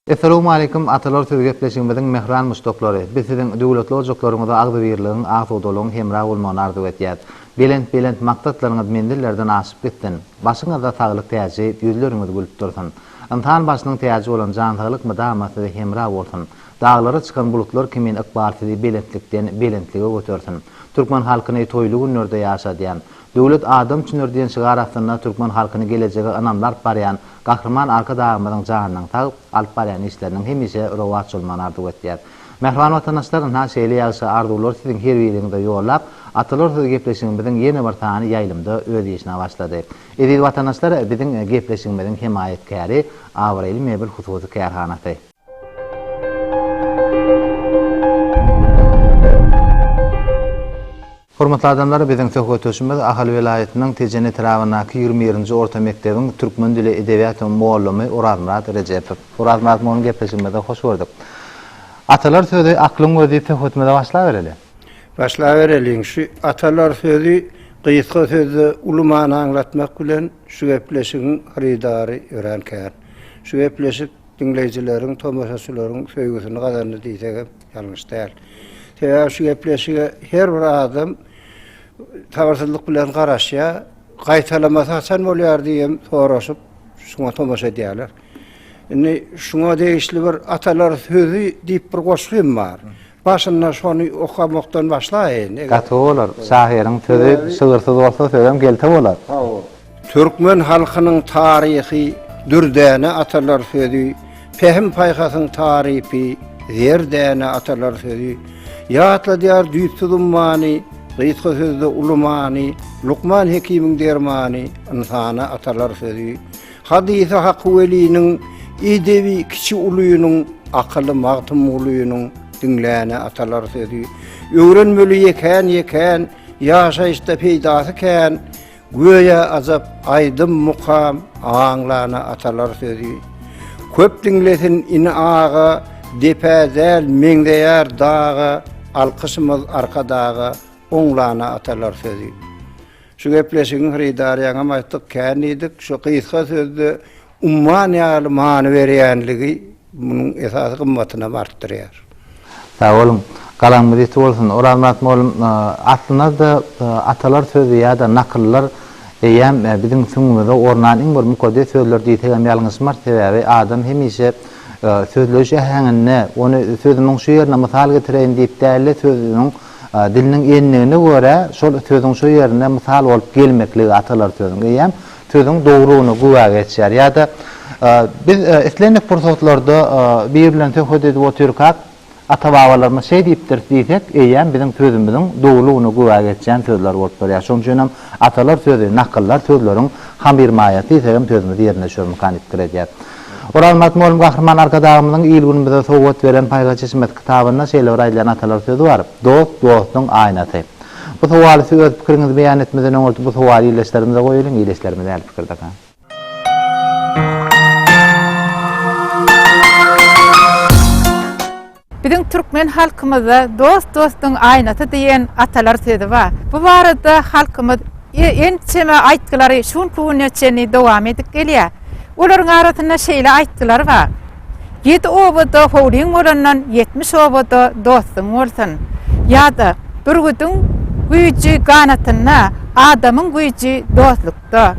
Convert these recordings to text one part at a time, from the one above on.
Essalawmaleýkum Atalar söz gepleşigimiziň mähran muşdaklary! Biz siziň döwletli ojaklaryňyzda agzybirligiň, asudalygyň hemra bolmagyny arzuw etýäs. Belent belent maksatlaryňyz menzillerden aşyp gitsin! Başyňyzda saglyk täji, ýüzleriňiz gülüp dursun! Ynsan başynyň täji bolan jan saglyk mydama size hemra bolsun! Daglara çykan bulutlar kimin ykbal sizi belentlikden belentlige götersin. Türkmen halkyny toýly günlerde ýaşadýan, Döwlet adam üçindir diýen şygar astynda türkmen halkyny gelejege ynamly alyp barýan Gahryman Arkadagymyzyň janynyň sag, alyp barýan işleriniň hemişe rowaç bolmagyny arzuw etýär. Mähriban watandaşlar, ynha şeýle ýagşy arzuwlary siziň her biriňize ýollap, Atalar sözi gepleşigimiziň ýene bir sany ýaýlymda öz işine başlady. Eziz watandaşlar, biziň gepleşigimiziň hemaýatkäri Abraýly mebel hususy kärhanasy. Hormatly adamlar, biziň söhbetdeşimiz Ahal welaýatynyň Tejen etrabyndaky ýigrimi birinji orta mekdebiň türkmen dili, edebiýaty mugallamy Orazmyrat Rejepow. Orazmyrat mugallym gepleşigimize hoş gördük. Atalar sözi, aklyň gözi diýip söhbetimize başlabereli. Başlabereliň. Şu atalar sözi gysga sözde uly many aňlatmak bilen şu gepleşigiň hyrydary örän kän. Şu gepleşik diňleýjileriň, tomaşaçylaryň söýgüsini gazandy diýsegem ýalňyş däl. Sebäbi şu gepleşige her bir adam sabyrsyzlyk bilen garaşýar, gaýtalamasy haçan bolýar diýem soraşyp, şuňa tomaşa edýärler. Indi şuňa degişli bir atalar sözi diýip bir goşgym bar. Başynda şony okamakdan başlaýyn. Gaty bolar. Şahyryň sözi şygyrsyz bolsa sözem gelte bolar. Sagol. Türkmen halkynyň taryhy dürdäne atalar sözi, pähim-paýhasyň tarypy zerdäne atalar sözi. Ýatladýar düýpsüz ummany, gysga sözde uly many, Lukman Hekimiň dermany, ynsana atalar sözi. Hadysy Haky Weliniň edebi kiçi ulynyň akyly Magtymgulynyň diňläne atalar sözi Öwrenmeli ýekän ýekän ýaşaýyşda peýdasy kän Göýä ajap aýdym mukam aňlana atalar sözi Köp diňlesin ini aga depä däl meňzeýär daga Alkyşymyz Arkadaga oňlana atalar sözi. Şu gepleşigiň Hrydarýaňam aýtdyk, kän diýdik. Şu gysga sözde umman ýaly many berýänligi munuň esasy gymmatynam artdyrýar. Sag boluň. Galaňyz ýiti bolsun. Orazmyrat mugallym, aslynda-da atalar sözi ýa-da nakyllar eýýäm biziň süňňümize ornan iň bir mukaddes sözler diýsegem ýalňyşmarys. Sebäbi adam hemişe sözleýiş äheňinde, ony sözümiň şu ýerine mysal getireýin diýip däl-de, sözüniň Diliniň endigine görä, şol sözüň şo ýerinde mysal bolup gelmekligi atalar sözüň eýýäm sözüň dogrulygyna güwä geçýär. Ýa-da biz islendik pursatlarda biri bilen söhbet edip otyrkak, ata-babalarymyz şeý diýipdir diýsek, eýýäm biziň sözümiziň dogrulygyna güwä geçýän sözler bolup durýar. Şonuň üçin hem atalar sözi, nakyllar sözleriň hamyrmaýasy diýsek hem sözümizi ýerine düşürmekani pikir edýäris. Oraz Magtymguly Gahryman Arkadagymyzyň il-günümize sowgat beren Paýhas çeşmesi kitabynda şeýle bir aýdylýan atalar sözi bar, Dost, dostuň aýnasy. Bu sowaly siz öz pikiriňizi beýan etmeden öňürti bu sowaly ildeşlerimize goýalyň, ildeşlerimiz nähili pikirdekä? Biziň türkmen halkymyzda Dost dostuň aýnasy diýen atalar sözi bar. Bu barada halkymyz ençeme aýtgylary şu günki güne çenli dowam edip gelýär. Olaryň arasynda şeýle aýtgylar bar, Ýedi obada howlyň bolandan ýetmiş obada dostuň bolsun. Ýa-da, Bürgüdiň güýji ganatynda, adamyň güýji dostlukda. Dost-da.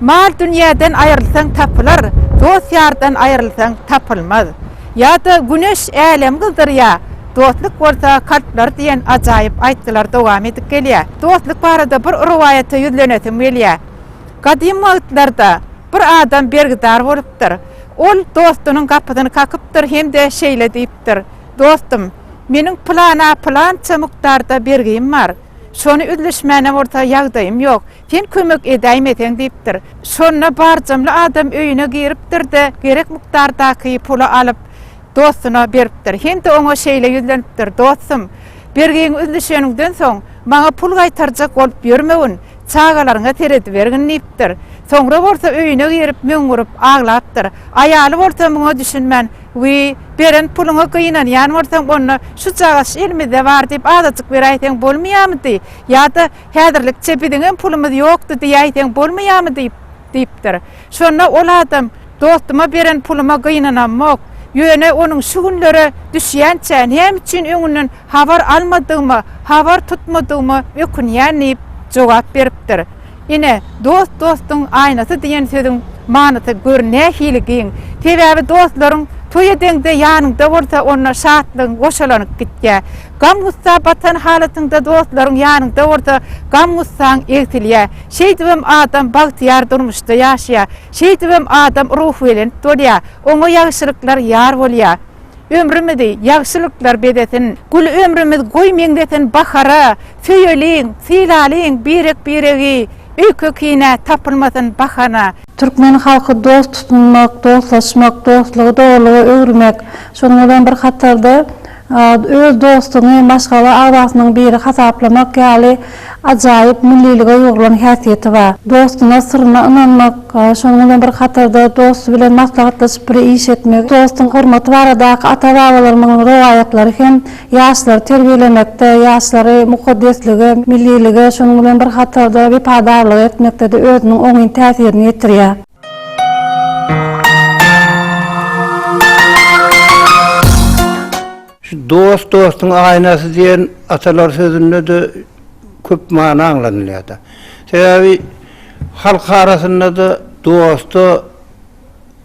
Mal-dünýäden aýrylsaň tapylar, dost-ýardan aýrylsaň tapylmaz. Ýa-da Güneş älemi gyzdyrýar, dostluk bolsa kalplary diýen ajaýyp aýtgylar dowam edip gelýär. Dostluk barada bir rowaýata ýüzlenesim gelýär. Gadym wagtlarda bir adam bergidar bolupdyr. Ol dostunyň gapysyny kakypdyr hem-de şeýle diýipdir, Dostum, meniň pylana pylança mukdarda bergim bar. Şony üzlüşmäne bolsa ýagdaýym ýok. Sen kömek edäýmeseň diýipdir. Şonda barjamly adam öýüne giripdir-de, gerek mukdardaky puly alyp, dostuna beripdir. Hind oňa şeýle ýüzlenipdir, Dostum, bergiňi üzlüşeniňden soň, maňa pul gaýtarjak bolup ýörmegin, çagalaryňa seredibergin diýipdir. Soňra bolsa öýüne girip, möňňürip aglapdyr. Aýaly bolsa muňa düşünmän, Wiý, beren puluňa gynanýan bolsaň, onda, Şujagaş elimizde bar diýip, azajyk beräýseň bolmaýarmydy? Ýa-da, Häzirlikçe biziňem pulumyz ýokdy diýäýseň bolmaýamy diýip, diýipdir. Şonda ol adam, Dostuma beren puluma gynanamok. Ýöne onuň şu günlere düşýänçä näme üçin öňünden habar almadygyma, habar tutmadygyma ökünýän diýip, jogap beripdir. Ine, dost dostuň aýnasy diýen sözüň manysy gör nähili giň. Sebäbi dostlaryň toý edeňde ýanyňda bolsa onda şatlygyň goşalanyp gitýär. Gam-gussa batan halatyňda dostlaryň ýanyňda bolsa, gam-gussaň egsilýär. Şeýdibem adam bagtyýar durmuşda ýaşaýar. Şeýdibem adam ruhubelent bolýar. Oňa ýagşylyklar ýar bolýar. Ömrümizi ýagşylyklar bezesin! Gül ömrümiz goý meňzesin bahara, Söýeliň, sylalyň birek-biregi, Öýke-kine tapylmasyn bahana. Türkmen halky dost tutunmak, dostlaşmak, dostlugy dogrulyga öwürmek, şonuň bilen bir hatarda Öz dostuňy maşgala agzasynyň biri hasaplamak ýaly ajaýyp millilige ýugrulan häsiýeti bar. Dostuna syryna ynanmak, şonuň bilen bir hatarda dosty bilen maslahatlaşyp bir iş etmek, dostuň hormaty baradaky ata-babalarymyň rowaýatlary hem ýaşlary terbiýelemekde, ýaşlary mukaddeslige, millilige, şonuň bilen bir hatarda wepadarlyga etmekde-de özüniň oňyn täsirini ýetirýär. Şu dost dostuň aýnasy diýen atalar sözünde-de köp mana aňlanylýar-da. Sebäbi halk arasynda-da dosta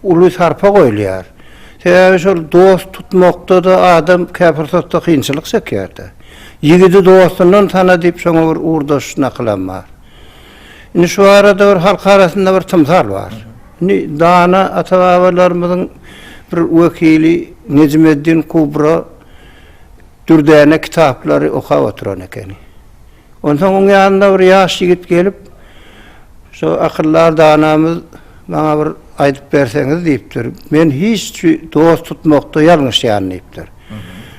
uly sarpa goýulýar. Sebäbi şol dost tutmakda-da adam käpursatda kynçylyk çekýär-de. Ýigidi dostundan tana diýip şoňa bir ugurdaş nakylam bar. Indi şu barada bir halk arasynda bir tymsal bar. Indi dana ata-babalarymyzyň bir wekili Nejmeddin Kubra dürdäne kitaplary okap oturan ekeni. Onsoň oň ýanyna bir ýaş ýigit gelip, şu akyldar danamyz maňa bir aýdyp berseňiz diýipdir. Men hiç dost tutmakda ýalňyşýan diýipdir.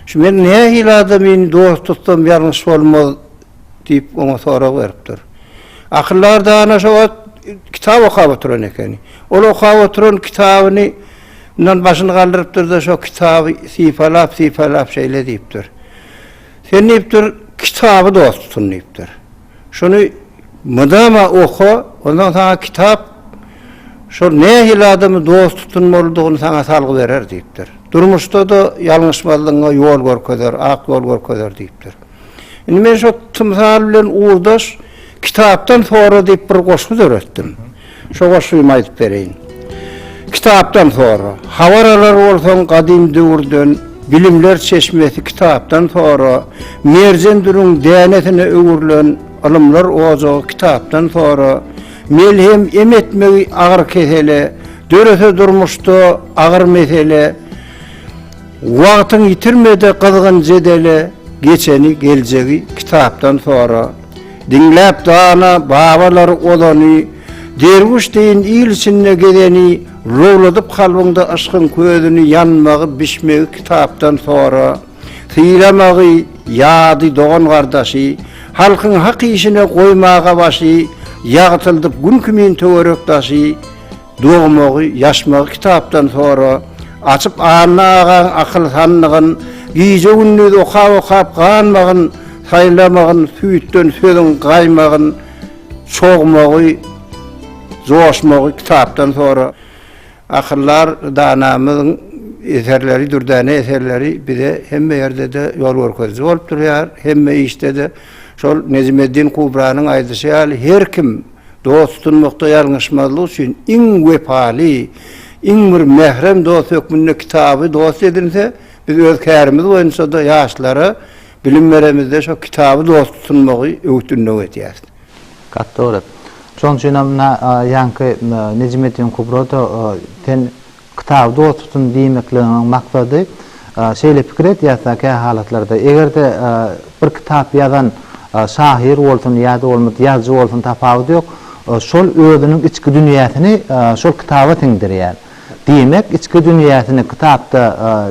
Şu men nähili adam indi dost tutsam ýalňyş bolmaz diýip, oňa sorag beripdir. Akyldar dana şo wagt kitap okap oturan ekeni. Ol okap oturan kitabyny ndan başyny galdyrypdyr-da, şo kitaby sypalap-sypalap şeýle diýipdir. Sen diýipdir, kitaby dost tutun diýipdir. Şuny mydama oka, ondan saňa kitap şol nähili adamy dost tutunmalydygyny saňa salgy berer diýipdir. Durmuşda-da ýalňyşmazlygyňa ýol görkezer, ak ýol görkezer diýipdir. Indi men şo tymsal bilen ugurdaş kitapdan sonra diýip bir goşgy döretdim. Şo goşgymy aýdyp bereýin. Kitapdan sonra habar alar bolsaň gadym döwürden bilimler çeşmesi kitapdan sonra merjen dürüň dänesine öwrülen ylymlar ojagy kitapdan sonra melhem em etmegi agyr kesele dörese durmuşda agyr mesele Wagtyň ýitirmede gyzgyn jedele geçeni geljegi kitapdan sora diňläp dana babalar ozany derwüş deýin il içinde gezeni lowladyp kalbyňda yşkyň közüni ýanmagy bişmegi kitapdan sora sylamagy ýady dogan gardaşy halkyň hak işine goýmaga başy ýagtyldyp gün kimin töwerek daşy Dogmagy, ýaşmagy kitapdan sora. Açyp Anna agaň akyl sandygyn, Gije-gündiz okap-okap ganmagyn, Saýlamagyn süýtden sözüň gaýmagyn, Çogmagy, joşmagy kitapdan sora. Akyldar danamyzyň eserleri, dürdäne eserleri bize hemme ýerde-de ýol görkeziji bolup durýar, hemme işde-de. Şol Nejmeddin Kubranyň aýdyşy ýaly, her kim. Dost tutunmakda ýalňyşmazlyk üçin iň wepaly, iň bir mährem dost hökmünde kitaby dost edinse, biz öz kärimiz boýunça-da ýaşlara bilim beremizde şo kitaby dost tutunmagy öwüt-ündew edýäris. Gaty dogry. Şonuň üçinem na ýaňky Nejmeddin Kubroda sen Kitaby dost tutun diýmekligiňiň maksady şeýle pikir edýäs-dä kähalatlarda, eger-de bir kitap ýazan şahyr bolsun ýa-da bolmasa ýazyjy bolsun tapawudy ýok, şol özüniň içki dünýäsini şol kitaba siňdirýär. Diýmek, içki dünýäsini kitapda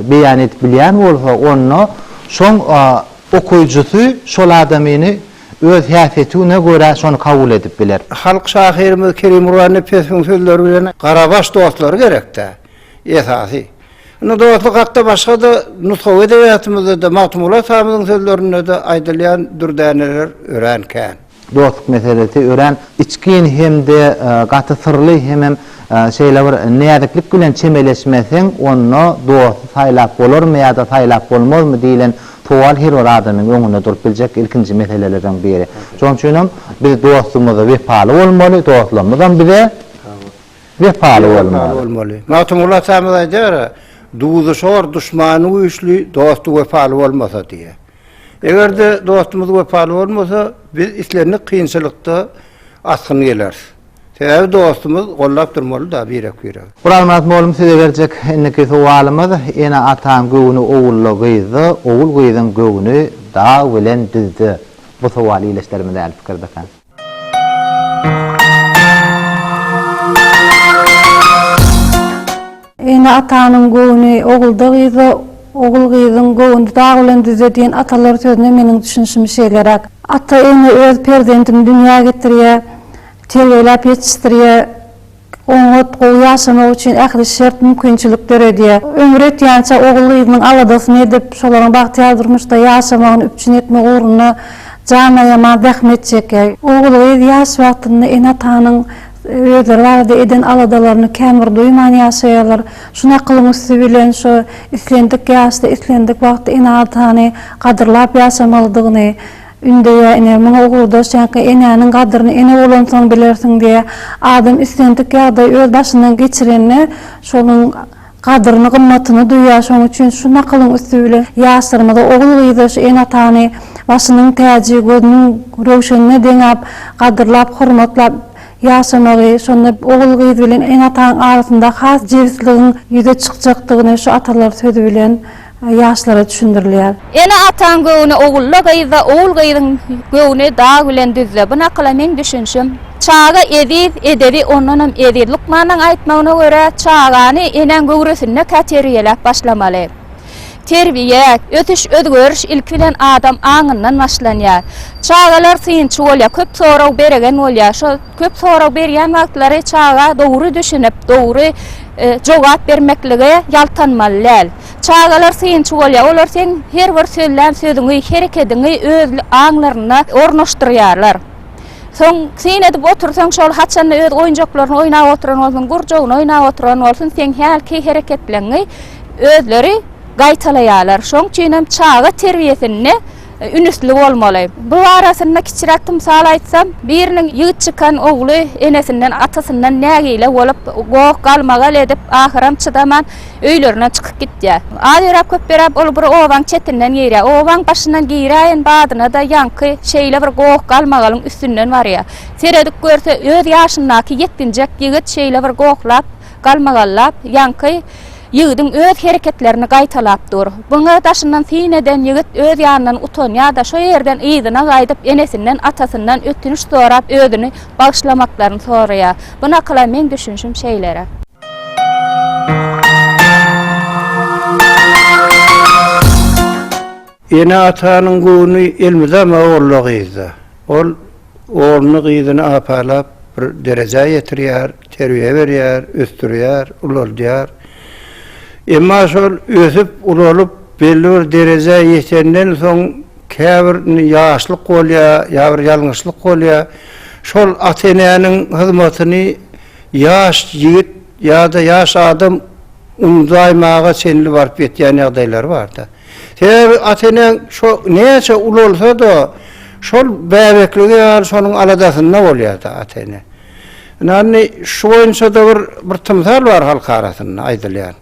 beýan edip bilýän bolsa, onda şoň okyjysy şol adamyny öz häsiýetine görä şony kabul edip biler. Halk şahyrymyz Kerimguly Nepesowyň sözleri bilen Garabaş dostlary gerek-dä, esasy. Indi dostluk hakda başga-da nusgawy edebiýatymyzda-da, Magtymguly atamyzyň sözlerinde-de aýdylýan dürdäneler örän kän. Dostluk meselesi örän içgin hem-de gaty syrly hemem şeýle bir näziklik bilen çemeleşmeseň, onda dosty saýlap bolarmy ýa-da saýlap bolmazmy diýlen Sowal her bir adamyň öňünde durup biljek ilkinji meselelerden biri. Şonuň üçin hem biz dostumyza wepaly bolmaly, dostlarymyzam bize wepaly bolmaly. Magtymguly atamyz aýdar, Duzy şor, duşmany güýçli, dosty wepaly bolmasa diýýär. Eger-de dostumyz wepaly bolmasa, biz islendik kynçylykda asgyn geleris. Sebäbi dostumyz gollap durmalyda birek biregi. Guralmyrat molum size berjek indiki sowalymyz ene ataň göwni owulda gyzda owul gyzyň göwni dag bilen düzde bu sowal ileslerimiz äli pikirdaka. Ene-atanyň göwni ogulda-gyzda, ogul-gyzyň göwni dag bilen düzde diýen atalar sözüne meniň düşünişim şeýleräk. Ata-ene öz perzendini dünýä getirýär, terbiýeläp ýetişdirýär, oňat, gowy ýaşamagy üçin ähli şert-mümkinçilik döredýär. Ömri ýetýänçä ogul-gyzynyň aladasyny edip, şolaryň bagtyýar durmuşda ýaşamagyny üpjün etmek ugrunda jan aýaman zähmet çekýär. Ogul-gyz ýaş wagtynda ene-atanyň Özleri barada eden aladalaryny kän bir duýman ýaşaýarlar. Şu nakylyň üsti bilen şu islendik ýaşda, islendik wagtda ene-atany gadyrlap ýaşamalydygyny ündeýär. Ine, muňa ugurdaş ýaňky Enäniň gadyryny ene bolansoň bilersiň diýýär. Adam islendik ýagdaýy öz başyndan geçirende, şonuň Gadyryny gymmatyny duýýar şoň üçin şu nakylyň üsti bilen ýaşlarymyza ogul gyza şu ene atany başynyň täji gözüniň röwşenine deňäp gadyrlap hormatlap ýaşamagy şonda ogul gyz bilen ene atanyň arasynda has jebisligiň ýüze çykjakdygyny şu atalar sözi bilen ýaşlara düşündirilýär. Ene-ataň göwni ogulda gyzda, ogul-gyzyň göwni dag bilen düzde. Bu nakyla meň düşünşim. Çaga eziz, edebi ondanam eziz. Lukmanyň aýtmagyna görä, çagany enäň göwresindeka terbiýeläp başlamaly. Terbiýe, ösüş, özgeriş ilki bilen adam aňyndan başlanýar. Çagalar synçy bolýar, köp sorag beregen bolýar. Şo köp sorag berýän wagtlary çaga dogry düşünip, dogry. jogap bermeklige ýaltanmaly däl. Çagalar synçy bolýar, olar seň her bir sözlän sözüňi, herekediňi öz aňlaryna ornaşdyrýarlar. Soň syn edip otursaň, şol haçan-da öz oýunjaklaryny oýnap oturan bolsun, gurjagyny oýnap oturan bolsun, seň hälki hereketleňňi özleri gaýtalaýarlar. Şoň üçinem çaga terbiýesinde. Ünüsli bolmaly. Bu barasynda kiçiräk tymsal aýtsam, biriniň ýigit çykan ogly enesinden, atasyndan nägile bolup, goh, galmagal edip, ahyram çydaman, öýlerinden çykyp gitýär. Az ýöräp, köp ýöräp, ol bir obaň çetinden girýär. Obaň başyndan giräýen badyna-da ýaňky şeýle bir goh, galmagalyň üstünden barýar. Seredip görse, öz ýaşyndaky ýetginjek ýigit şeýle bir gohlap, Galmagallap, ýaňky ýigidiň öz hereketlerini gaýtalap dur. Buny daşyndan syn eden ýigit öz ýanyndan utanýar-da, şo ýerden yzyna gaýdyp, enesinden, atasyndan ötünç sorap, özüni bagyşlamaklaryny soraýar. Bu nakyla meň düşünişim şeýle. Ene-atanyň göwni elmydama ogla-gyzda. Ol ogluny-gyzyny apalap bir derejä ýetirýär, terbiýe berýär, ösdürýär, ulaldýar. Emma şol ösüp, ulalyp, belli bir derejä ýetenden soň käbir ýaşlyk bolýar, ýa bir ýalňyşlyk bolýar. Şol ata-enäniň hyzmatyny ýaş ýigit ýa-da ýaş adam unudaýmaga çenli baryp ýetýän ýagdaýlary bar-da. Sebäbi ata-eneň şo näçe ulalsa-da, şol bäbekligi ýaly şonuň aladasynda bolýar-da ata-ene. Ine, indi şu boýunça-da bir, bir tymsal bar halk arasynda aýdylýan.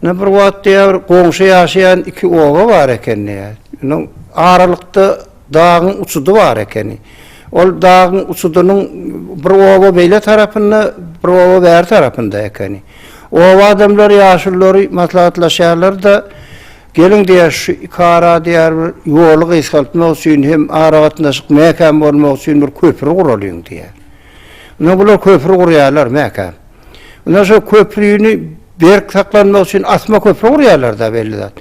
Ine, bir wagt diýýär, bir goňşy ýaşaýan iki oba bar eken diýýär. Indi aralykda dagyň uçudy bar ekeni. Ol dagyň uçudynyň bir oba beýle tarapynda, bir oba bäri tarapynda ekeni. Oba adamlary, ýaşululary maslahatlaşýarlar-da, Geliň diýýä şu iki ara diýýär bir ýoly gysgaltmak üçin hem aragatnaşyk mäkäm bolmak üçin bir köpri guralyň diýýär. Ine bular köpri gurýarlar mäkäm. Ine şo köprini berk saklanmak üçin asma köpri gurýarlar-da belli zat.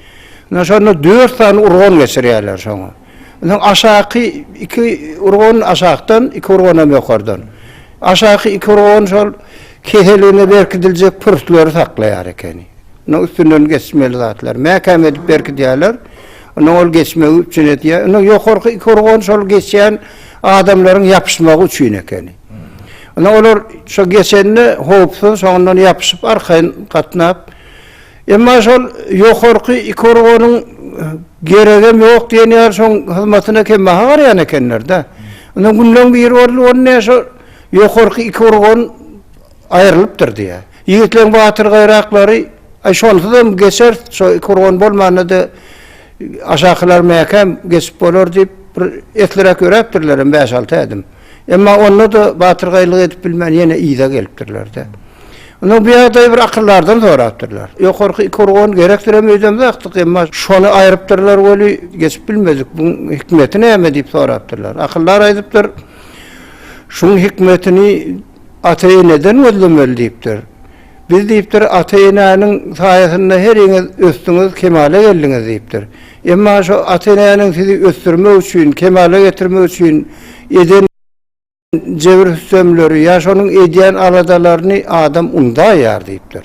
Ine şonda dört sany urgan geçirýärler şoňa. Onsoň aşaky iki urgan aşakdan, iki urgan hem ýokardan. Aşaky iki urgan şol keseligine berkidiljek pürslüleri saklaýar ekeni. Onuň üstünden geçmeli zatlar. Mäkäm edip berkidýärler. Onsoň ol geçmegi üpjün edýär. Onsoň ýokarky iki urgan şol geçýän adamlaryň ýapyşmagy üçin ekeni. Onsoň olar şo geçende howpsuz, soňundan ýapyşyp arkaýyn gatnap, Emma şol ýokarky iki urganyň geregem ýok diýen ýaly şoň hyzmatyna kembaha garaýan ekenler-dä. Indi günleň biri boldy, ony näme şo ýokarky iki urgan aýrylypdyr diýýä. Ýigitleň batyrgaýraklary, Aý şonsuzam geçeris, şo iki urgan bolmanda-da aşakylar mäkäm geçip bolar diýip, bir esliräk ýöräpdirlerem bäş-alty ädim. Emma onda-da batyrgaýlyk edip bilmän ýene yza gelipdirler-de. Ondan bu ýagdaýy bir akyldardan sorapdyrlar. Ýokarky iki urgan gerekdirem öýdemzakdyk, emma şony aýrypdyrlar weli, geçip bilmedik. Buň hikmeti näme? diýip sorapdyrlar. Akyldar aýdypdyr, Şuň hikmetini ata-eneden gözlemeli diýipdir. Biz diýipdir, ata-enäniň saýasynda heriňiz ösdüňiz, kemala geldiňiz diýipdir. Emma şo ata-enäniň sizi ösdürmek üçin, kemala getirmek üçin eden jebir-sütemleri ýa şonuň edýän aladalaryny adam undaýar diýipdir.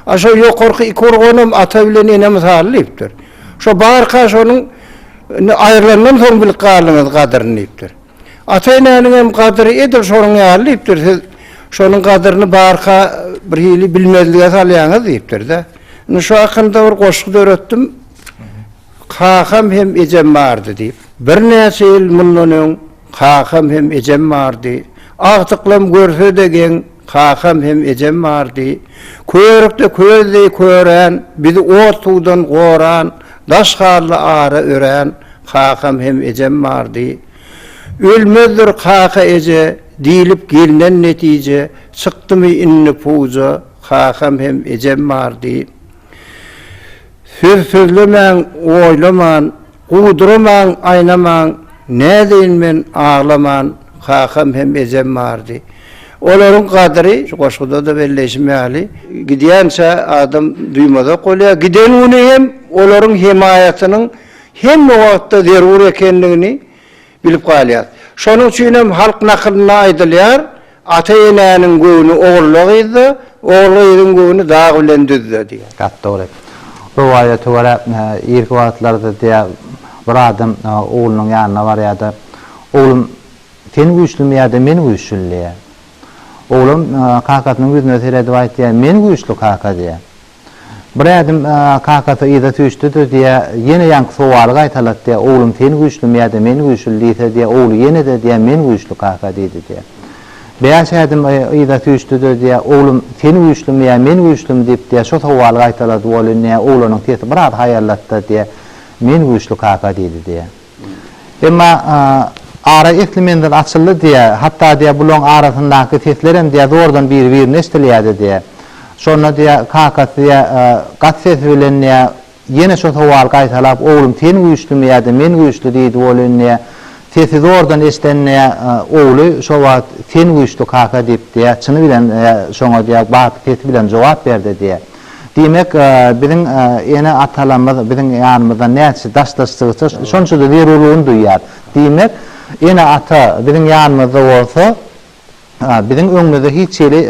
A şo ýokarky iki urganam ata bilen ene mysaly diýipdir. Şo barka şonuň indi aýrylandan soň bilip galdyňyz gadyryny diýipdir. Ata-enäniňem gadyry edil şonuň ýaly diýipdir. Siz şonuň gadyryny barka bir hili bilmezlige salýaňyz diýipdir-de. Indi şu hakynda bir goşgy döretdim. Kakam hem ejem bardy diýip. Birnäçe ýyl mundan öň kakam hem ejem bardy. Agtyklam görse-de geň. Kakam hem ejem bardy. Körükde köz deý körän, bizi ot-suwdan goran, daş hally ara örän kakam hem ejem bardy. Ölmezdir kaka-eje diýlip gelnen netije, çykdymy indi puja, kakam hem ejem bardy. Söz sözlemäň, oýlaman. Guduramaň, aýnamaň, nädeýin men aglaman, kakam hem ejem bardy. Olaryň gadyry, şu goşguda-da belleýşim ýaly, gidýänçä adam duýmazak bolýar. Giden güni hem olaryň hemaýatynyň hemme wagtda zerur ekendigini, Bilip galýas. Şonuň üçinem halk nakylynda aýdylýar, Ata-enäniň göwni ogulda-gyzda, ogul-gyzyň göwni dag bilen düzde diýýär. Gep dogry. Rowaýata görä, irki wagtlarda diýýär, bir adam oglunyň ýanyna barýar-da, Oglum, sen güýçlimi ýa-da men güýçlümi diýýär. Oglan kakasynyň ýüzüne seredip aýtýar, Men güýçli kaka diýýär. Bir ädim kakasy yza süýşdi-de diýýä, ýene ýaňky sowaly gaýtalat diýýä, Oglum sen güýçlimi ýa-da men güýçli diýse diýýä, ogly ýene-de diýýä, Men güýçli kaka diýdi diýýä. Bäş ädim yza süýşdi-de diýýä, Oglum sen güýçlimi ýa men güýçlimi diýip diýýä, şo sowaly gaýtalady welin diýýä, oglanyň sesi biraz haýallatda diýýä, Men güýçli kaka diýdi diýýä. Emma ara esli menzil açyldy diýýä. Hatda diýýä bulaň arasyndaky seslerem diýýä zordan biri birine eşdilýädi diýýä. Şonda diýýä kakasy diýýä gaty sesi bilen diýýä ýene şo sowaly gaýtalap oglum sen güýçlimi ýada men güýçli diýdi welin diýýä sesi zordan eşden diýýä ogly şo wagt sen güýçli kaka diýip diýýä çyny bilen şoňa diýýä baky sesi bilen jogap berdi diýýä. Diýmek, biziň ene-atalarymyz biziň ýanymyzdan näçe daşlaşdygyça, şonça-da zerurlygyny duýýar. Diýmek, ene-ata biziň ýanymyzda bolsa, biziň öňümizde hiç hili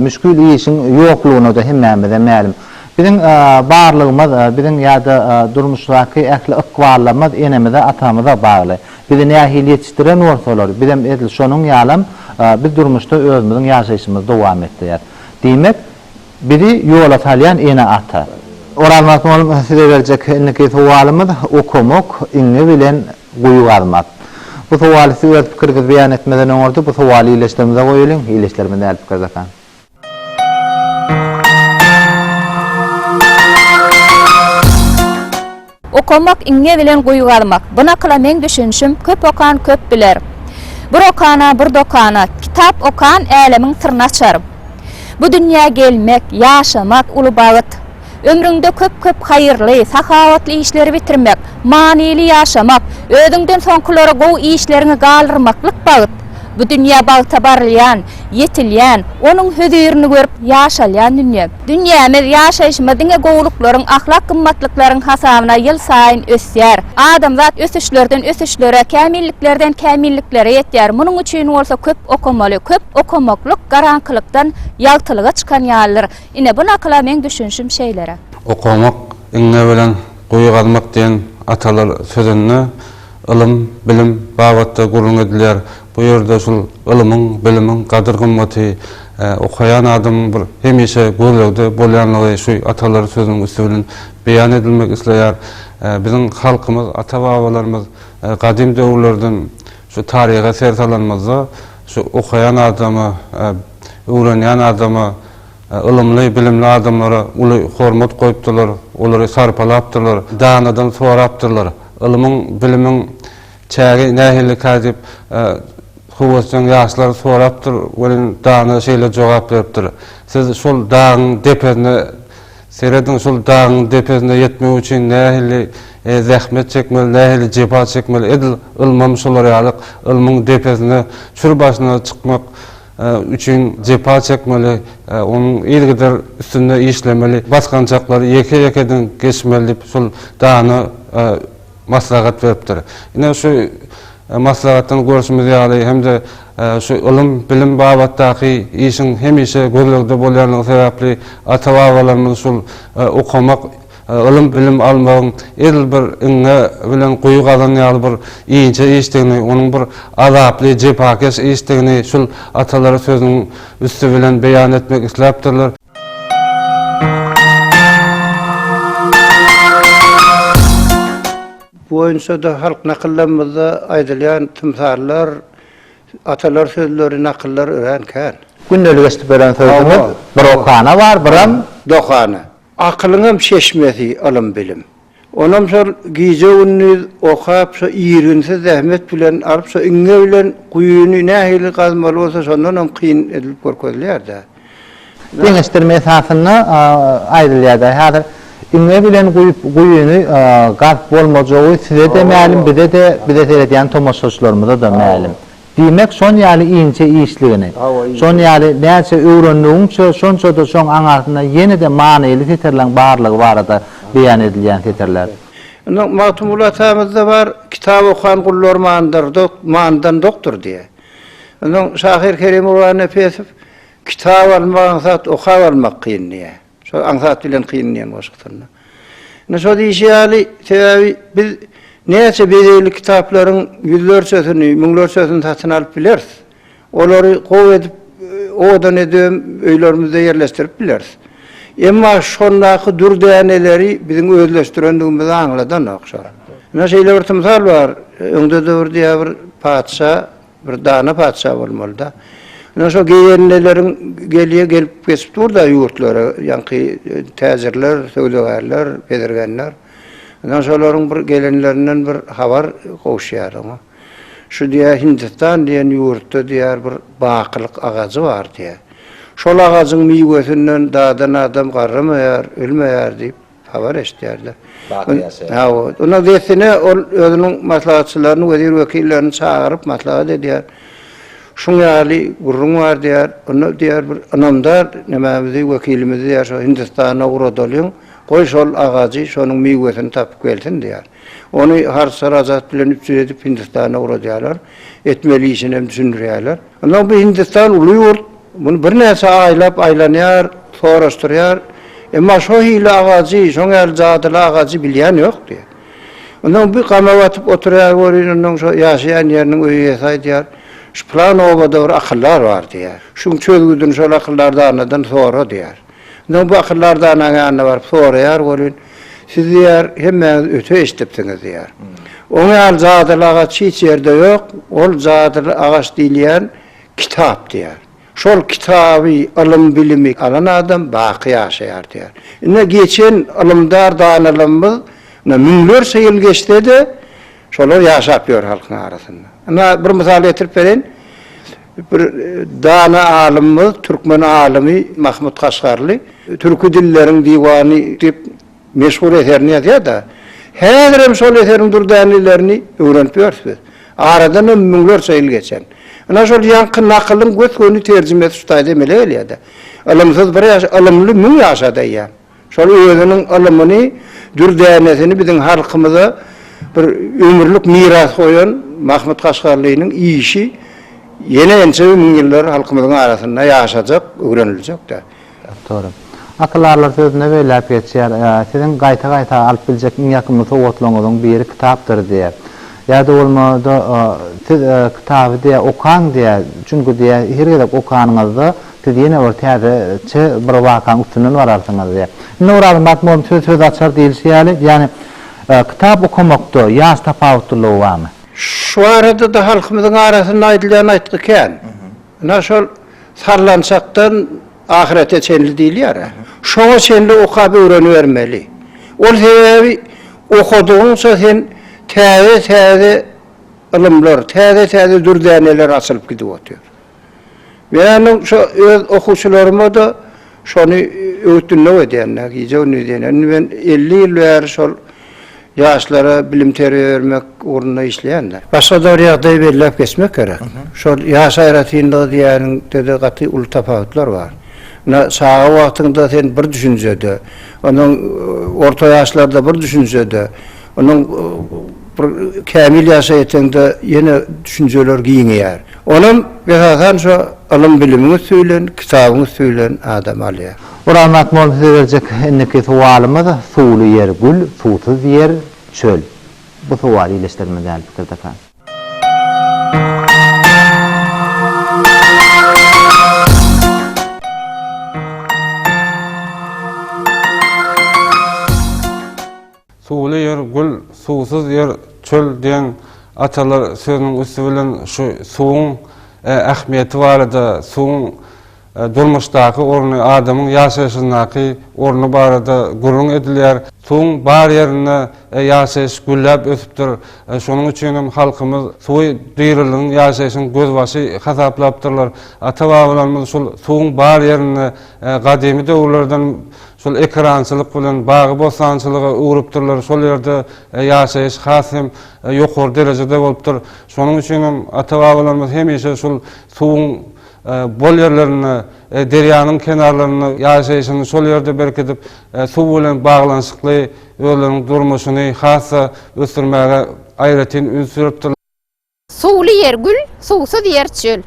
müşgil işiň ýoklugyny-da hemmämize mälim. Biziň barlygymyz, biziň ýa-da durmuşdaky ähli ykballarymyz enemize, atamyza bagly. Bizi nähili ýetişdiren bolsalar, bizem edil şonuň ýalam biz durmuşda özümiziň ýaşaýşymyzy dowam etdirýäris. Diýmek, Bizi ýola salýan ene-ata. Orazmat mugallym size berjek indiki sowalymyz okamok iňňe bilen guýy gazmak. Bu sowaly siz öz pikiriňizi beýan etmeden öňürti bu sowaly ildeşlerimize goýalyň, ildeşlerimiz nädip pikir edaka. Okamak iňňe bilen guýy gazmak. Bu nakyla meň düşünişim, Köp okan köp biler. Bir okana, bir dokana. Kitap okan älemiň syryny açar. Bu dünýä gelmek, ýaşamak, uly bagt. Ömrüňde köp-köp haýyrly, sahawatly işleri bitirmek, manyly ýaşamak, özüňden soňkulara gowy işleriňi galdyrmaklyk bagt. Bu dünýä bagta barylýan. Ýetilýän, onuň hözirini görüp, ýaşalýan dünýe. Dünýämiz, ýaşaýşymyz diňe gowulyklaryň, ahlak gymmatlyklaryň hasabyna ýylsaýyn ösýär. Adamzat ösüşlerden ösüşlere, kämilliklerden kämilliklere ýetýär. Munuň üçin bolsa köp okamaly. Köp okamaklyk garaňkylykdan ýagtylyga çykan ýalydyr. Ine, bu nakyla meň düşünişim şeýleräk. Okamak, iňňe bilen guýy gazmak diýen atalar sözünde ylym, bilim babatda gürrüň edilýär. Bu ýerde şul ylymyň, bilimiň gadyr-gymmaty okaýan adamyň bir hemişe gözlegde bolýanlygy şu atalar sözüniň üsti bilen beýan edilmek isleýär. Biziň halkymyz, ata-babalarymyz gadym döwürlerden şu taryha ser salanymyzda şu okaýan adama, öwrenýän adama, ylymly, bilimli adamlara uly hormat goýupdyrlar, olary sarpalapdyrlar, danadan sorapdyrlar. Ylymyň, bilimiň Çägi nähilikä diýip, höwesjeň ýaşlar sorapdyr, welin dana şeýle jogap beripdir, Siz şol dagyň depesine serediň, şol dagyň depesine ýetmek üçin nähili zähmet çekmeli, nähili jepa çekmeli, edil ylmam şolar ýaly, ylmyň depesine, çür başyna çykmak üçin jepa çekmeli, onuň yzygider üstünde işlemeli, basgançaklary ýeke-ýekeden geçmeli diýip, şol dana maslahat beripdir. Ine, şu maslahatdan görşümiz ýaly hem-de şu ylym, bilim babatdaky işiň hemişe gözlegde bolýandygy sebäpli ata-babalarymyz şul okamak, ylym, bilim almagyň edil bir iňňe bilen guýy gazan ýaly bir inçe işdigini, onuň bir azaply, jepakeş işdigini şul atalara sözüniň üsti bilen beýan etmek isläpdirler. Bu boýunça-da halk nakyllarymyzda aýdylýan tymsallar, atalar sözleri, nakyllar örän kän. Gündelik eşidip ören sözümiz, Bir okana bar, biram. Dokana. Akylyňam çeşmesi, ylym-bilim. Onam şol gije-gündiz okap, şo irginsiz zähmet bilen alyp, şo iňňe bilen guýyny nähili gazmaly bolsa, şondan hem kyn edilip görkezilýär-dä. Deňeşdirme esasynda aýdylýar-da, häzir iňňe bilen guýup, guýyny gazyp bolmajagy size-de mälim, bize-de, bize seredýän tomaşaçylarymyza-da mälim. Diýmek, şon ýaly inçe işligini, şon ýaly näçe öwrendigiňçe, şonça-da şoň aňarsynda ýene-de manyly setirleň barlygy barada beýan edilýän setirler. Indi Magtymguly atamyzda bar, Kitap okan gullar mandyr, mandan dokdur diýýär. Onsoň şahyr Kerim Gurbannepesov, Kitap almak aňsat, okap almak kyn diýýär. Şo aňsat bilen kyn diýen goşgusynda. Ine şo diýşi ýaly, sebäbi biz näçe bezegli kitaplaryň ýüzlerçesini, müňlerçesini satyn alyp bileris. Olary gowy edip, owadan edip hem öýlerimizde ýerleşdirip bileris. Emma şondaky dür däneleri biziň özleşdirendigimizi aňladanok şo. Ine şeýle bir tymsal bar. Öňde-de bir diýýär bir patyşa Bir dana patyşa bolmalyda. Ine şo geýenlileriň gelýä gelip geçip durda ýurtlara ýaňky täjirler, söwdagärler, bezirgenler. Ine şolaryň bir gelenlerinden bir habar gowuşýar oňa. Şu diýýär Hindistan diýen ýurtda diýýär bir bakylyk agajy bar diýýär. Şol agajyň miwesinden dadan adam garramaýar, ölmeýär diýip. Habar eşidýärler. Baky ýaşaýar. Hawa, ony dessine ol özüniň maslahatçylaryny, wezir-wekillerini çagyryp maslahat edýär. Şuň ýaly gürrüň bar diýýär. Onda diýýär bir ynamdar nemämizi, wekilimizi diýýär, şo Hindistana ugradalyň. Goý şol agajy, şonuň miwesini tapyp gelsin diýýär. Ony harsa razat bilen üpjün edip Hindistana ugradýarlar. Etmeli işinem düşündirýärler. Onsoň bu Hindistan uly ýurt. Muny birnäçe aýlap aýlanýar, soraşdyrýar. Emma şo hili agajy, şoň ýaly jadyly agajy bilýän ýok diýýär. Onsoň bir gama batyp oturýar welin, onsoň şo ýaşaýan ýeriniň öý eýesi aýdýar, Şu pylan obada bir akyldar bar diýýär. Şuň çözgüdini şol akyldar danadan sora diýýär. Onsoň bakyrlar danaň ýanyna baryp soraýar welin, Siz, diýýär, hemmäňiz öte eşidipsiňiz, diýýär. Oň ýaly jadyly agaç hiç ýerde ýok, ol jadyly agaç diýilýän kitap, diýýär. Şol kitaby, ylym-bilimi alan adam baky ýaşaýar, diýýär. Ine, geçen ylymdar danalarymyz, ine, müňlerçe ýyl geçse-de, şolar ýaşap ýör halkyň arasynda. Ine, bir mysal getirip bereýin. Bir dana alymymyz, türkmen alymy Mahmut Kaşgarly Türki dilleriň diwany diýip meşhur eserini ýazýar-da, häzirem şol eseriň dürdänelerini öwrenip ýörüs biz. Aradan hem müňlerçe ýyl geçen. Ynha şol ýaňky nakylyň gös-göni terjimesi şu taýda emele gelýär-de, Ylymsyz bir ýaş, ylymly müň ýaşa diýýän. Şol özüniň ylymyny, dürdänesini biziň halkymyza bir ömürlik miras goýan Mahmyt Kaşgarlynyň işi ýene ençeme müň ýyllar halkymyzyň arasynda ýaşajak, öwreniljek-de. Dogry. Akyldar sözünde beýläk geçýär, Siziň gaýta-gaýta alyp biljek iň ýakymly sowgatlaryňyzyň biri kitapdyr diýýär. Ýa-da bolmada, Siz kitaby diýýär, okaň diýýär, çünki diýýär, her gezek okanyňyzda Siz ýene bir täze çy bir wakaň üstünden bararsyňyz diýip. Indi Orazy Magtymgulynyň Söz söz açar diýilişi ýaly, ýagny kitap okamakda ýaş tapawutlylygy barmy? Şu barada-da halkymyzyň arasynda aýdylýan aýtgy kän. Ynha şol sallançakdan ahyrete çenli diýilýär-ä. Şoňa çenli okap öwrenibermeli. Ol sebäbi okadygyňça sen täze-täze ylymlar, täze-täze dürdäneler açylyp gidip otyr. Menem şo öz okuwçylaryma-da şony öwüt-ündew edýän-dä, gije-gündiz diýen. Indi men elli ýyl bäri şol ýaşlara bilim-terbiýe bermek ugrunda işleýän-dä. Başga-da bir ýagdaýy belläp geçmek gerek. Şol ýaş aýratynlygy diýýäniňde-de gaty uly tapawutlar bar. Ine, çaga wagtyňda sen bir düşünjede, onuň orta ýaşlarda bir düşünjede, onuň bir kämil ýaşa ýeteňde ýene düşünjeler giňeýär. Onam, esasan, şo ylym-bilimiň üsti bilen, kitabyň üsti bilen adam alýar. Guramaýak bolup size berjek indiki sowalymyz, Suwly ýer, gül, suwsuz ýer, çöl. Bu sowal ildeşlerimiz däl pikirdeka. Suwly ýer gül, suwsuz ýer çöl diýen atalar sözüniň üsti bilen şu suwuň ähmiýeti barada, suwuň durmuşdaky orny, adamyň ýaşaýşyndaky orny barada gürrüň edilýär. Suwuň bar ýerinde ýaşaýyş gülläp ösüpdir. Şonuň üçin hem halkymyz suwy diriligin, ýaşaýşyň gözbaşy hasaplapdyrlar. Ata-babalarymyz şol suwuň bar ýerinde gadymy döwürlerden Şol ekerançylyk bilen bagy-bossançylyga öwrüpdirler, şol ýerde ýaşaýyş has hem ýokary derejede bolupdyr. Şonuň üçin hem ata-babalarymyz hemişe şol suwuň bol ýerlerinde, derýanyň kenarlarynda ýaşaýşyny şol ýerde berkidip, suw bilen baglanyşykly özleriniň durmuşyny has-da ösdürmäge aýratyn üns beripdirler. Suwly ýer gül, suwsuz ýer çöl.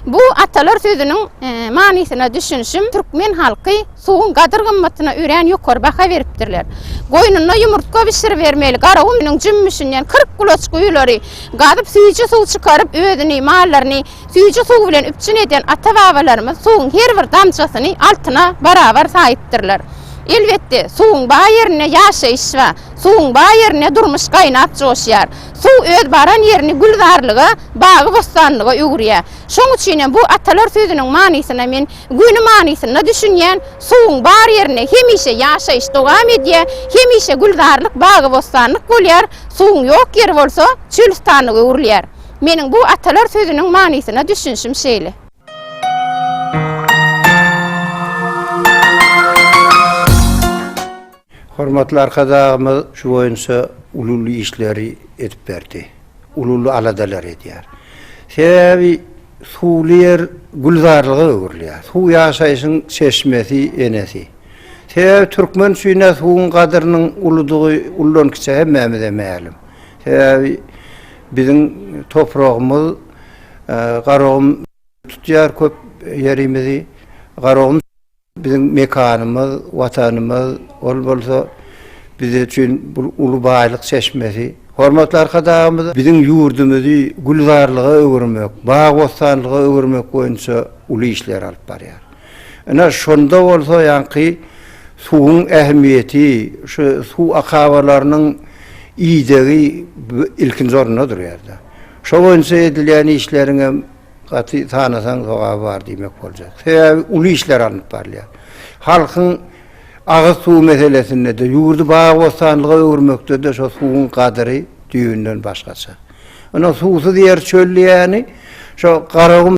Bu atalar sözüniň manysyna düşünişim, türkmen halky suwuň gadyr-gymmatyna örän ýokary baha beripdirler. Goýnuna ýumurtga bişiribermeli Garagumynyň jümmüşinden kyrk gulaç guýulary gazyp, süýji suw çykaryp, özüni, mallaryny süýji suw bilen üpjün eden ata-babalarymyz suwuň her bir damjasyny altyna barabar saýypdyrlar. Elbetde, suwuň bar ýerinde ýaşaýyş bar, suwuň bar ýerinde durmuş gaýnap-joşýar. Suw öz baran ýerini gülzarlyga, bagy-bossanlyga öwürýär. Şoň üçin hem bu atalar sözüniň manysyna men göni manysynda düşünýän, suwuň bar ýerinde hemişe ýaşaýyş dowam edýär, hemişe gülzarlyk, bagy-bossanlyk bolýar, suwuň ýok ýeri bolsa çölüstanlyga öwrülýär. Meniň bu atalar sözüniň manysyna düşünişim şeýle. Hormatly Arkadagymyz şu boýunça uly-uly işleri edip berdi. Uly-uly aladalar edýär. Sebäbi suwly ýer gülzarlyga öwrülýär. Suw ýaşaýşyň çeşmesi, enesi. Sebäbi türkmen üçin-ä suwuň gadyrynyň uludygy ullankiçe hemmämize mälim. Sebäbi biziň topragymyz Garagum tutýar köp ýerimizi. Garagum. Biziň mekanymyz, Watanymyz, ol bolsa biz üçin bu uly baýlyk çeşmesi. Hormatly Arkadagymyz biziň ýurdumyzy gülzarlyga öwürmek, bag-bossanlyga öwürmek boýunça uly işleri alyp barýar. Ine, şonda bolsa ýaňky suwuň ähmiýeti, şu suw akabalarynyň idegi ilkinji orunda durýar-da. Şo boýunça edilýän işleriň hem Gaty tanasaň sogaby bar diýmek boljak. Sebäbi uly işler alnyp barylýar. Halkyň agyz suwy meselesinde-de, ýurdy bag-bossanlyga öwürmekde-de şo suwuň gadyry düýbünden başgaça. Ynha suwsuz ýer çöl diýýäni şo Garagum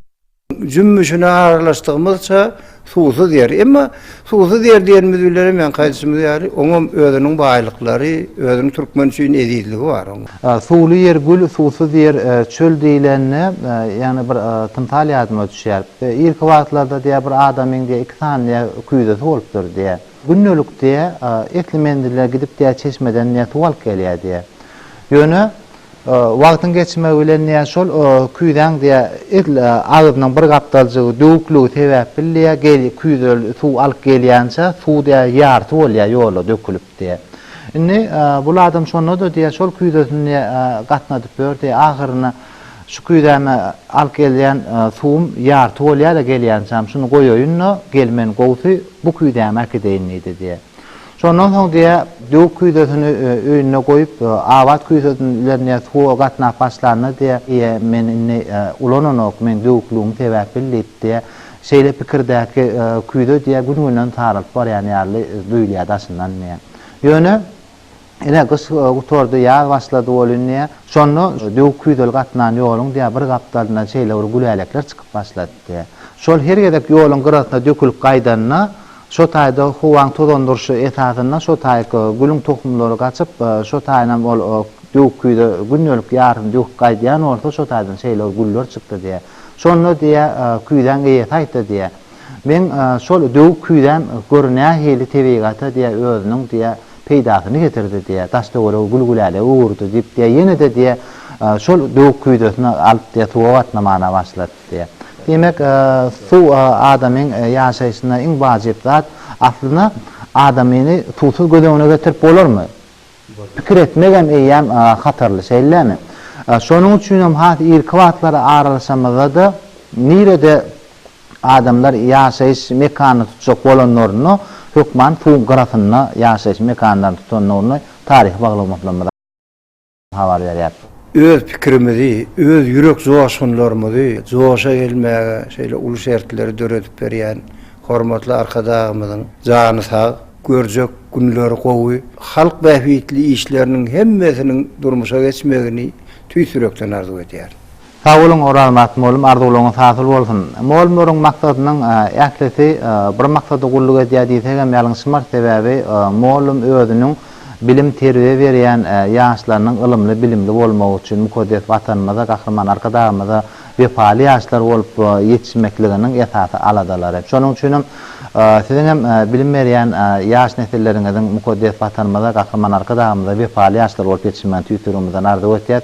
jümmüşine aralaşdygymyzça, Suwsuz ýer. Emma suwsuz ýer diýenimiz bilen hem ýaňky aýdyşymyz ýaly, oňam özüniň baýlyklary, özüniň türkmen üçin ezizligi bar oň. Suwly ýer gül, suwsuz ýer çöl diýlende, ýagny bir tymsal ýadyma düşýär. Irki wagtlarda diýýär, bir adamyň diýýär, iki sany diýýär, küýzesi bolupdyr diýýär. Gündelik diýýär, esli menzile gidip diýýär, çeşmeden diýýär, suw alyp gelýär diýýär. Ýöne. Wagtyň geçmegi bilen diýä şol küýzäň diýä edil agzynyň bir gapdaljygy döwükligi sebäpli diýä gel küýze suw alyp gelýänçä suw diýä ýarty bolýa ýola dökülip diýä. Indi bul adam şonda-da diýä şol küýzesini diýä gatnadyp ýör diýä ahyryna şu küýzäme alyp gelýän suwum ýarty bolýa-da gelýänçäm şuny goýaýyn-da gel men gowsy bu küýzämi äkideýin diýdi diýä. Şondan soň diýe döw küýzesini öýünde goýup, abat küýzesini bilen diýe suwa gatnap başlanda diýe Eýe, men indi ulananok, meň döwüklügimi sebäp bil diýip diýe şeýle pikirdäki küýze diýe gün-günden saralyp barýan ýaly duýulýar daşyndan diýe. Ýöne ine gyş gutardy, ýaz başlady welin diýe şonda döw küýzeli gatnan ýoluň diýe bir gapdalyndan şeýle bir gülälekler çykyp başlady diýe. Şol her gezek ýoluň gyrasynda dökülip gaýdanda Şo taýda howaň tozandyryşy esasynda şo taýky gülüň tohumlary gaçyp, şo taýynam ol döwük küýze gündelik ýarysyny döküp gaýdýan bolsa, şo taýdan şeýle güller çykdy diýýär. Şonda diýýär, küýzäň eýesi aýtdy diýýär, Meň şol döwük küýzäm gör nähili tebigata diýýär, özüniň diýýär, peýdasyny getirdi diýýär, daş-töweregi gül-gülälege öwürdi diýip diýýär, ýene-de diýýär, şol döwük küýzesini alyp diýýär, suwa batnamana başlar. Diýýär. Diýmek, suw adamyň ýaşaýşynda iň wajyp zat. Aslynda, adamyny suwsuz göz öňüne getirip bolarmy? Pikir etmegem eýýäm hatarly, şeýlemi? Şonuň üçinem has irki wagtlara aralaşamyzda-da, nirede adamlar ýaşaýyş mekanyny tutjak bolanlarynda, hökman suwuň gyrasynda ýaşaýyş mekanlaryny tutandygyny taryhy baglamaklarymyz. habar berýär. Öz pikirimizi, öz ýürek joşgunlarymyzy joşa gelmäge şeýle uly şertleri döredip berýän hormatly Arkadagymyzyň jany sag, görjek günleri gowy, halk bähbitli işleriniň hemmesiniň durmuşa geçmegini tüýs ýürekden arzuw edýärin. Sag boluň Orazmyrat molum arzuwlaryňyz hasyl bolsun. Molumlaryň maksadynyň ählisi bir maksada gulluk edýär diýsegem ýalňyşmarys sebäbi molum özüniň bilim terbiýe berýän ýaşlarynyň ylymly bilimli bolmagy üçin mukaddes watanymyza gahryman arkadagymyza wepaly ýaşlar bolup ýetişmekliginiň esasy aladalary şonuň üçinem siziňem bilim berýän ýaş nesilleriňiziň mukaddes watanymyza gahryman arkadagymyza wepaly ýaşlar bolup ýetişmegini tüýs ýüregimizden arzuw etýäs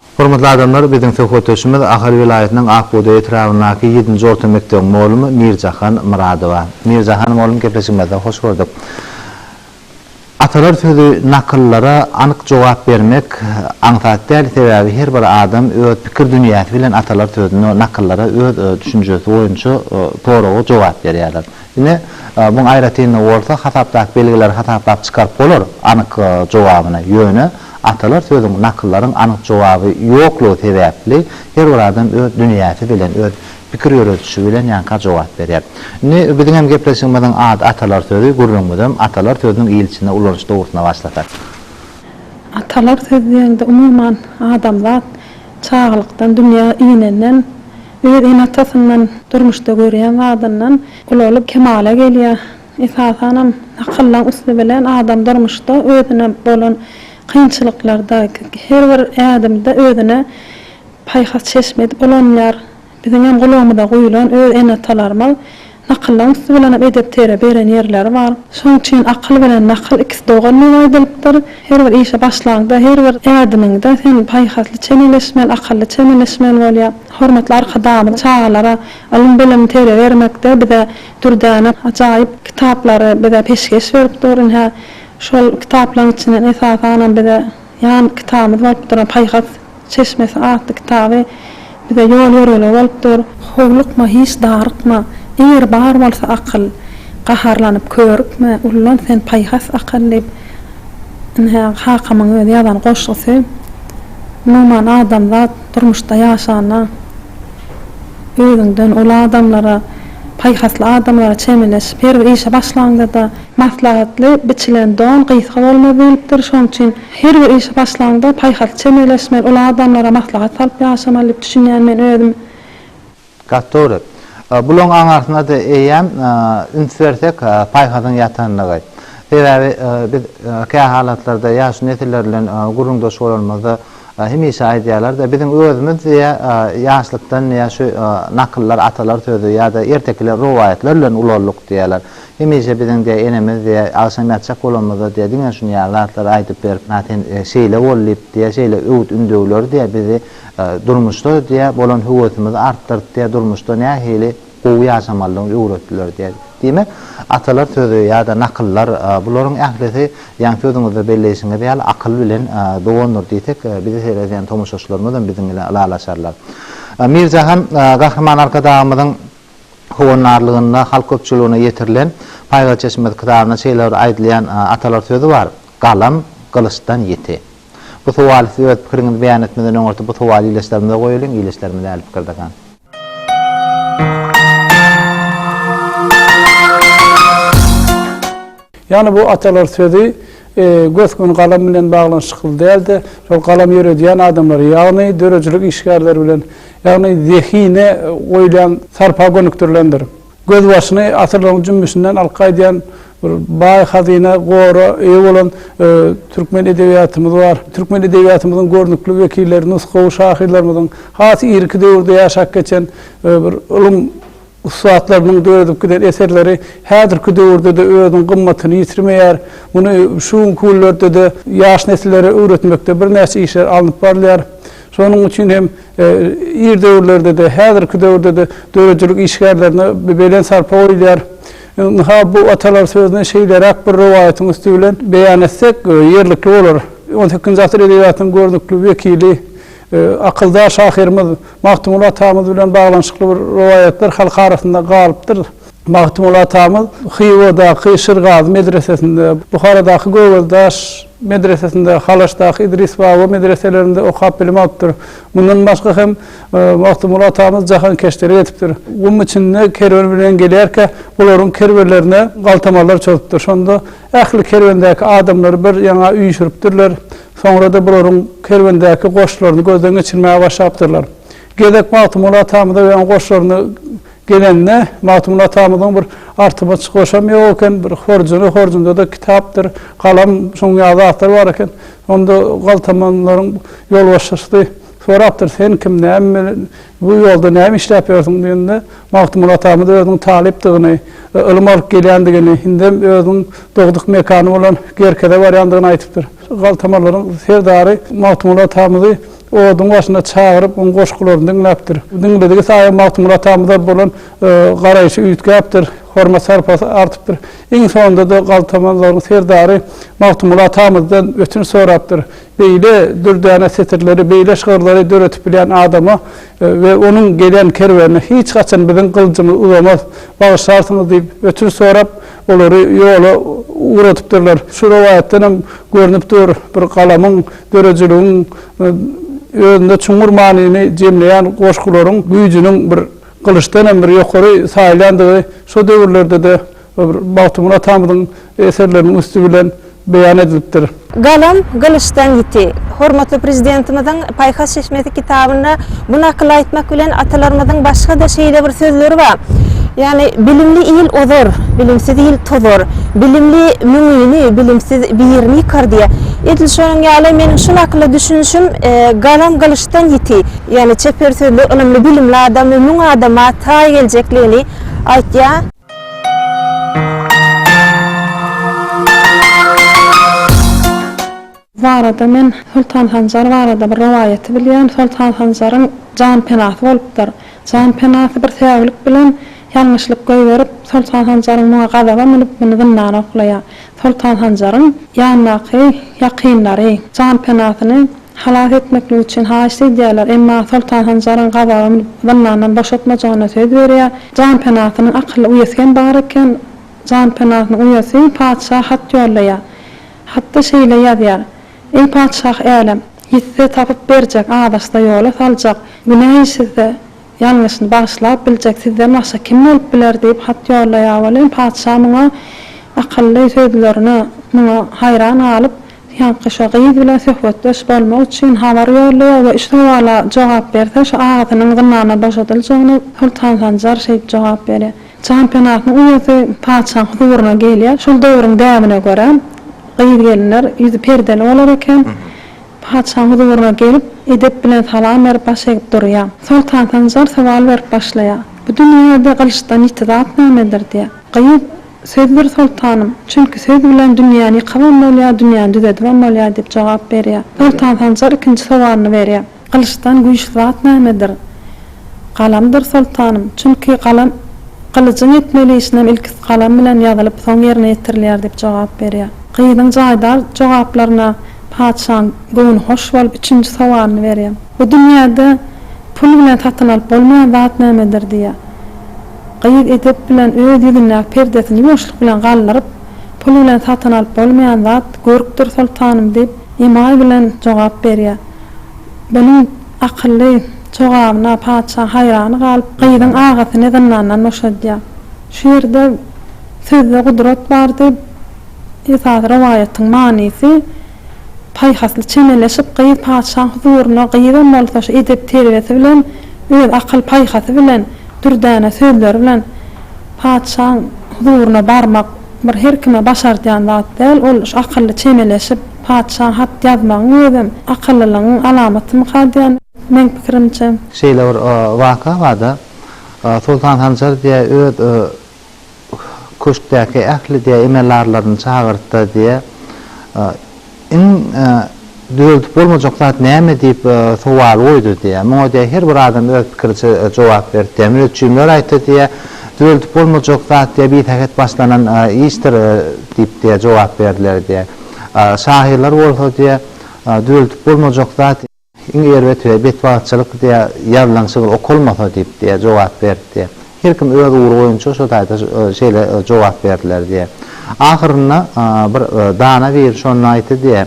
Hormatly adamlar, biziň söhbetdeşimiz Ahal welaýatynyň Ak bugdaý etrabyndaky ýedinji orta mekdebiň mugallym Mirjahan Myradowa. Mirjahan mugallym gepleşigimizde hoş gördük. Atalar sözi nakyllara anyk jogap bermek aňsat däl, sebäbi her bir adam öz pikir dünýäsi bilen atalar sözüne, nakyllara öz düşünjesi boýunça soraga jogap berýärler. Ine, muň aýratynlygy bolsa hasapdaky belgileri hasaplap çykaryp bolar, anyk jogabyny. Ýöne atalar sözüň, nakyllaryň anyk jogaby ýoklugy sebäpli her bir adam öz dünýäsi bilen, öz pikir ýöredişi bilen ýanka jogap berýär. Indi biziňem gepleşigimiziň ady Atalar sözi, gürrüňimizem atalar sözüniň il içinde ulanyş dogrusynda başlasak. Atalar sözi diýende umuman adamzat çagalykdan dünýä inenden, Öz ene-atasyndan, durmuşda görýän zadyndan ulalp kemala gelýär. Esasanam nakyllaň üsti bilen adam durmuşda özüne bolan kynçylyklarda, her bir ädimde özüne paýhas çeşme edip ulanýar. Biziňem gulagymyza guýulan öz ene-atalarymyz. Nakyllaň üsti bilenem edep tere beren ýerleri bar. Şonuň üçin akyl bilen nakyl ikisi dogan diýip aýdylypdyr. Her bir işe başlaňda, her bir ädimiňde sen paýhasly çemeleşmeli, akylly çemeleşmeli bolýa. Hormatly Arkadagymyz çagalara ylym-bilim tere bermekde bize dürdäne ajaýyp kitaplary bize peşgeş berip dur. Ine, şol kitaplaryň içinden esasanam bize. Ýan kitabymyz bolup duran Paýhas çeşmesi atly kitaby bize ýol-ýörelge bolup dur. Howlukma, hiç darykma, eger bar bolsa akyl, Gaharlanyp körükme, ullan sen paýhas akyl diýip, ine, Hakamyň özi ýazan goşgusy. Umuman, adamzat durmuşda ýaşanda özüňden uly adamlara, paýhasly adamlara çemeleşip, her bir işe başlaňda-da, Maslahatly biçilen don gysga bolmaz diýlipdir, şonuň üçin her bir işe başlaňda paýhasly çemeleşmeli, uly adamlara maslahat salyp ýaşamaly diýip düşünýän men özüm. Gaty dogry. Bulaň aňarsynada eýýäm üns bersek paýhasyň ýatandygy. Sebäbi biz kähalatlarda ýaş nesiller bilen gürrüňdeş bolanymyzda hemişe aýdýarlarda biziň özümiz diýä ýaşlykdan diýä şu nakyllar atalar sözi ýada ertekiler rowaýatlar bilen ulaldyk diýýärler. Hemişe biziň diýe enemiz diýe agşam ýatjak bolanymyzda diýe diňe şuny ýaly zatlary aýdyp berip na sen şeýle bol diýip diýe şeýle öwüt ündewleri diýe bizi durmuşda diýe bolan höwesimizi artdyryp diýe durmuşda nähili gowy ýaşamalydygyny öwretdiler diýe. Diýmek atalar sözi ýada nakyllar bularyň ählisi ýaňy sözüňizde belleýşiňiz ýaly akyl bilen dogandyr diýsek bizi seredýän tomaşaçylarymyzam biziň bilen ylalaşarlar. Mirjahan Gahryman Arkadagymyzyň Howandarlygynda halk köpçüligine ýetirilen Paýhas çeşmesi kitabynda şeýle bir aýdylýan atalar sözi bar, Galam, gylyçdan ýiti. Bu sowaly siz öz pikiriňizi beýan etmeden öňürti bu sowaly ildeşlerimize goýalyň, ildeşlerimiz äli pikir dakan. Ýagny bu atalar sözi Gös-gün galam bilen baglanyşykly däl-de, şol galam ýöredýän adamlary, ýagny döredijilik işgärleri bilen, ýagny zehine goýlan sarpa gönükdirilendir. Gözbaşyny asyrlaryň jümmüşinden alyp gaýdýan bir baý hazyna, gora eýe bolan türkmen edebiýatymyz bar. Türkmen edebiýatymyzyň görnükli wekilleri, nusgawy şahyrlarymyzyň has irki döwürde ýaşap geçen bir ylym, Ussatlarymyň döredip giden eserleri häzirki döwürde-de özüniň gymmatyny ýitirmeýär. Muny şu günki günlerde-de ýaş nesillere öwretmekde birnäçe işler alnyp barylýar. Şonuň üçin hem ir döwürlerde-de, häzirki döwürde-de döredijilik işgärlerine belent sarpa goýulýar. Ynha, bu atalar sözüni şeýleräk bir rowaýatyň üsti bilen beýan etsek, ýerlikli bolar. On sekizinji asyr edebiýatynyň görnükli wekili, akyldar şahyrymyz. Magtymguly atamyz bilen baglanyşykly bir rowaýatlar halk arasynda galypdyr. Magtymguly atamyz Hywadaky Şirgazy medresesinde, Buharadaky Göwezdaş medresesinde, Halaşdaky Idris baba medreselerinde okap bilim alypdyr. Mundan başga hem Magtymguly atamyz jahankeşlere ýetipdir. Gum içinde kerwen bilen gelýärkä, bularyň kerwenlerine galtamarlar çozupdyr. Şonda ähli kerwendäki adamlary bir ýaňa üýşüripdirler. Soňra-da bularyň kerwendäki goşlaryny gözden geçirmäge başlapdyrlar. Gezek Magtymguly atamyza we onuň goşlaryna gelende, Magtymguly atamyzyň bir artymaç goşam ýok eken, bir horjuny, horjunda-da kitapdyr, galam, şunuň ýaly zatlar bar eken. Onda galtamanlaryň ýolbaşçysy sorapdyr, Sen kim, näme bilen Bu ýolda näme işläp ýörsüň diýende, Magtymguly atamyz özüniň talypdygyny, ylym alyp gelýändigini, indem özüniň dogduk mekany bolan Gerkeze barýandygyny aýdypdyr. Galtamarlaryň serdary Magtymguly atamyzy oduň başyna çagyryp, onuň goşgularyny diňläpdir. Diňledigi saýa Magtymguly atamyza bolan garaýşy üýtgäpdir, hormat-sarpasy artypdyr. Iň soňunda-da galtamarlaryň serdary Magtymguly atamyzdan ötünç sorapdyr. Beýle dürdäne setirleri, beýle şygyrlary döredip bilýän adama we onuň gelýän kerwenine hiç haçan biziň gylyjymyz uzamaz, bagyşlarsyňyz diýip, ötünç sorap, olary ýola ugradypdyrlar. Şu rowaýatdan hem görnüp dur, bir galamyň, döredijiligiň özünde çuňňur manyny jemleýän goşgularyň güýjüniň bir gylyçdan hem bir ýokary saýylýandygy, şo döwürlerde-de Bagtymyrat atamyzyň eserleriniň üsti bilen beýan edilipdir. Galam, gylyçdan ýiti. Hormatly Prezidentimiziň Paýhas çeşmesi kitabynda bu nakyly aýtmak bilen atalarymyzyň başga-da şeýle bir sözleri bar, ýagny, Bilimli il ozar, bilimsiz il tozar, bilimli müňini, bilimsiz birini ýykar diýýär. Edil şonuň ýaly, meniň şu nakyla düşünişim, Galam gylyçdan ýiti, ýagny çeper sözli, ylymly, bilimli adamy müň adama taý geljekligini aýtýar. Bu barada men Soltan Hanjar barada bir rowaýaty bilýän, Soltan Hanjaryň jan penasy bolupdyr. Jan penasy bir säwlik bilen ýalňyşlyk goýberip, Soltan Hanjaryň muňa gazaba münüp muny zyndana oklaýar. Soltan Hanjaryň ýandaky ýakynlary jan penasyny. Halas etmeklik üçin haýyşt edýärler, emma Soltan Hanjaryň gazaga münüp, zyndandan boşatmajagyna söz berýär. Janpenasynyň akylly uýasy hem bar eken. Janpenasynyň uýasy patyşa hat ýollaýar. Hatda şeýle ýazýar, Eý patyşah älem! Ýitse, tapyp berjek, azaşsa, ýola saljak, günä işlese, ýalňyşyny bagyşlap biljek sizden başga kim bolup biler? diýip hat ýollaýar welin, patyşa muňa akylly sözlerine muňa haýran galyp, Ýaňky şo gyz bilen söhbetdeş bolmak üçin habar ýollaýar we üç sowala jogap berse, şo agtynyň zyndandan boşadyljagyna Soltan Sanjar şeýip jogap berýär. Janpenatynyň uýasy patyşaň huzuryna gelýär. Şol döwrüň däbine görä, gyz-gelinler ýüzi perdeli bolar eken. Patyşaň huzuryna gelip, edep bilen salam berip, baş egip durýar. Soltan Sanjar sowal berip başlaýar. Bu dünýäde gylyçdan ýiti zat nämedir? diýýär. Gyz. Sözdür soltanym, çünki söz bilen dünýäni ýykabam bolýar, dünýäni düzedibem bolýar diýip jogap berýär. Soltan Sanjar ikinji sowalyny berýär. Gylyçdan güýçli zat nämedir? Galamdyr soltanym, çünki galam gylyjyň etmeli işinem ilki galam bilen ýazylyp, soň ýerine ýetirilýär diýip jogap berýär. Gyzyň jaýdar jogaplaryna patyşaň göwni hoş bolup, üçünji sowalyny berýär. Bu dünýäde pul bilen satyn alyp bolmaýan zat nämedir? diýýär. Gyz edep bilen öz ýüzündäki perdesini ýuwaşlyk bilen galdyryp, Pul bilen satyn alyp bolmaýan zat görkdir, soltanym, diýip, emaý bilen jogap berýär. Bunuň akylly jogabyna patyşa haýran galyp, gyzyň agasyny zyndandan boşadýar. Şu ýerde Sözde gudrat bar diýip, esasy rowaýatyň manysy Paýhasly çemeleşip, gyz patyşaň huzuryna, gyzam bolsa şu edep-terbiýesi bilen, öz akyl-paýhasy bilen, dürdäne sözleri bilen patyşaň huzuryna barmak bir her kime başardýan zat däl. Ol şu akylly çemeleşip, patyşa hat ýazmagyň özem akyllylygyň alamatymyka diýen, meň pikirimçe. Şeýle bir waka bar-da, Soltan Sanjar diýýär, öz Köşkdäki ähli diýýär, emel-arlaryny çagyrtdy diýýär. Iň düzeldip bolmajak zat näme diýip sowal goýdy diýýär. Muňa diýýär, her bir adam öz pikiriçe jogap berdi diýýär. Müneçjimler aýtdy diýýär, düzeldip bolmajak zat diýýär, bisähet başlanan işdir diýip diýýär, jogap berdiler diýýär. Şahyrlar bolsa diýýär, düzeldip bolmajak zat. Iň erbet we betbagtçylyk diýýär, ýazylan şygyr okalmasa diýip diýýär, jogap berdi diýýär. Her kim öz ugry boýunça şo taýda şeýle jogap berdiler diýýär. Ahyrynda bir dana biri şonda aýtdy diýýär,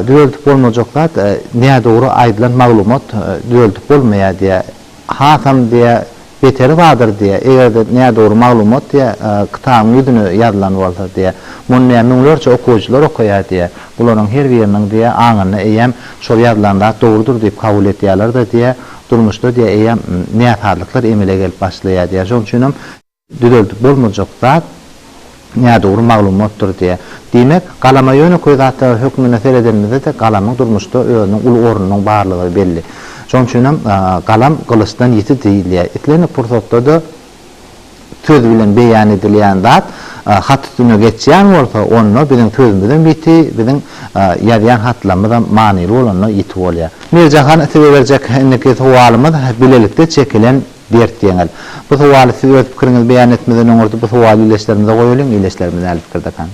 Düzeldip bolmajak zat, nädogry aýdylan maglumat düzeldip bolmaýar diýýär. Hasam diýýär, beteri bardyr diýýär. Eger-de nädogry maglumat diýýär, kitabyň ýüzüne ýazylan bolsa diýýär. Muny diýýär müňlerçe okyjylar okaýar diýýär. Bularyň her biriniň diýýär aňynda eýýäm şol ýazylan zat dogrudyr diýip kabul edýärler-de diýýär. Durmuşda diýýär eýýäm näsazlyklar emele gelip başlaýar diýýär. Şonuň üçin hem düzeldip bolmajak zat nädogry maglumatdyr diýýä. Diýmek, galama ýönekeý zatlar hökmünde seredenimizde-de galamyň durmuşda özüniň uly ornunyň barlygy belli. Şonuň üçin hem galam gylyçdan ýiti diýilýär. Islendik pursatda-da söz bilen beýan edilýän zat hat üstüne geçýän bolsa, onda biziň sözümizem ýiti, biziň ýazýan hatlarymyzam manyly bolanda ýiti bolýar. Mirjahan size berjek indiki sowalymyz bilelikde çekilen Dert ýeňil. Bu sowaly siz öz pikiriňizi beýan etmeden öňürti bu sowaly ileçlerimize goýalyň, ileçlerimiz näli pikirdekan?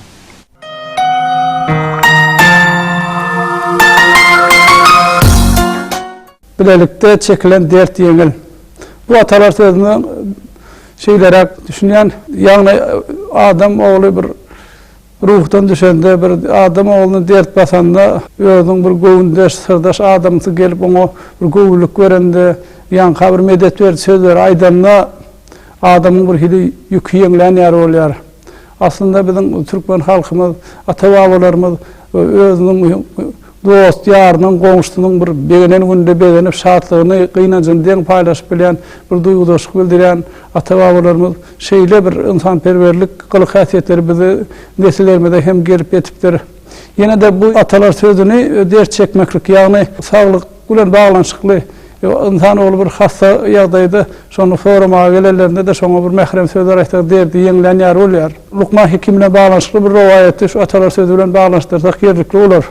Bilelikde çekilen dert ýeňil. Bu atalar sözüne şeýleräk düşünýän, ýagny adam ogly bir Ruhdan düşende, bir adam ogluny dert basanda, özüniň bir göwündeş, syrdaş adamsy gelip oňa bir göwünlik berende, ýaňka bir medet beriji sözleri aýdanda, adamyň bir hili ýüki ýeňlän ýaly bolýar. Aslynda biziň türkmen halkymyz, ata-babalarymyz özüniň Dost-ýarynyň, goňşusynyň bir begenen gününde begenip, şatlygyny, gynanjyny deň paýlaşyp bilýän, bir duýgudaşlyk bildirýän ata-babalarymyz şeýle bir ynsanperwerlik gylyk-häsiýetleri bizi nesillerimize hem gelip ýetipdir. Ýene-de bu atalar sözüni dert çekmeklik, ýagny saglyk bilen baglanyşykly. Ynsan ogly bir hassa ýagdaýda şony soramaga gelenlerinde-de şoňa bir mährem sözler aýtsaň derdi ýeňlän ýaly bolýar. Lukman Hekim bilen baglanyşykly bir rowaýaty şu atalar sözi bilen baglanyşdyrsak ýerlikli bolar.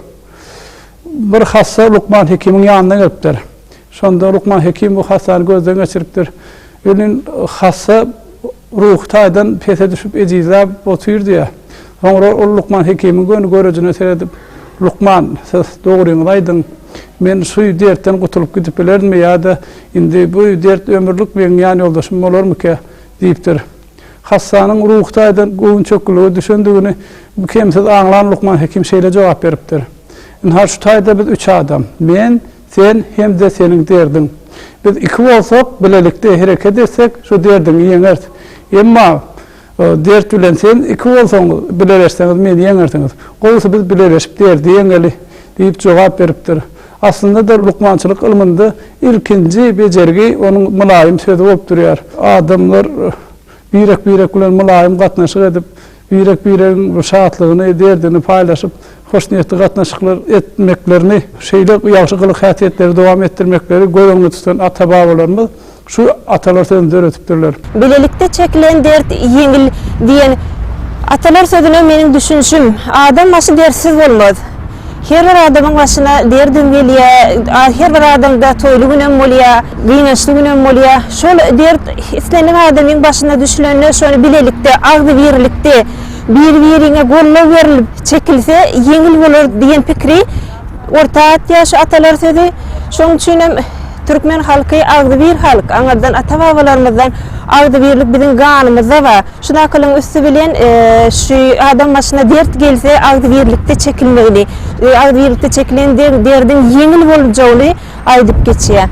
Bir hassa Lukman Hekimiň ýanyna gelipdir. Şonda Lukman Hekim bu hassany gözden geçiripdir. Gelin hassa ruhy taýdan pese düşüp ejizläp otyr diýýär. Soňra ol lukman hekimiň göni görejine seredip, Lukman, siz dogryňyzy aýdyň, men şu dertden gutulyp gidip bilerdimi ýa-da indi bu dert ömürlik meň ýanýoldaşym bolarmyka? diýipdir. Hassanyň ruhy taýdan göwün çökgülige düşendigini kemsiz aňlan lukman hekim şeýle jogap beripdir, Ynha şu taýda biz üç adam, men, Sen hem-de seniň derdiň. Biz iki bolsak, bilelikde hereket etsek, şu derdiňi ýeňeris. Emma dert bilen sen iki bolsaňyz, bileleşseňiz meni ýeňersiňiz. Gowusy biz bileleşip derdi ýeňeli, diýip jogap beripdir. Aslynda-da lukmançylyk ylmynda ilkinji bejergi onuň mylaýym sözi bolup durýar. Adamlar birek-birek bilen mylaýym gatnaşyk edip, birek-biregiň şatlygyny, derdini paýlaşyp, hoşniýetli gatnaşyklar etmeklerini, şeýle ýagşy gylyk-häsiýetleri dowam etdirmekleri göz öňünde tutan ata-babalarymyz şu atalar sözüni döredipdirler. Bilelikde çekilen dert ýeňil diýen atalar sözüne meniň düşünişim, adam başy dertsiz bolmaz. Her bir adamyň başyna derdim gelýä. Her bir adamda toýly günem bolýa, gynançly günem bolýa. Şol dert islendik adamyň başyna düşlende şony bilelikde, agzybirlikde, biri-biriňe goldaw berlip çekilse ýeňil bolar diýen pikiri orta atýar şu atalar sözi. Şonuň üçin hem türkmen halky agzybir halk. Aňyrdan ata-babalarymyzdan agzybirlik biziň ganymyzda bar. Şu nakylyň üsti bilen şu adam başyna dert gelse agzybirlikde çekilmegini, agzybirlikde çekilen derdiň ýeňil boljagyny aýdyp geçýär.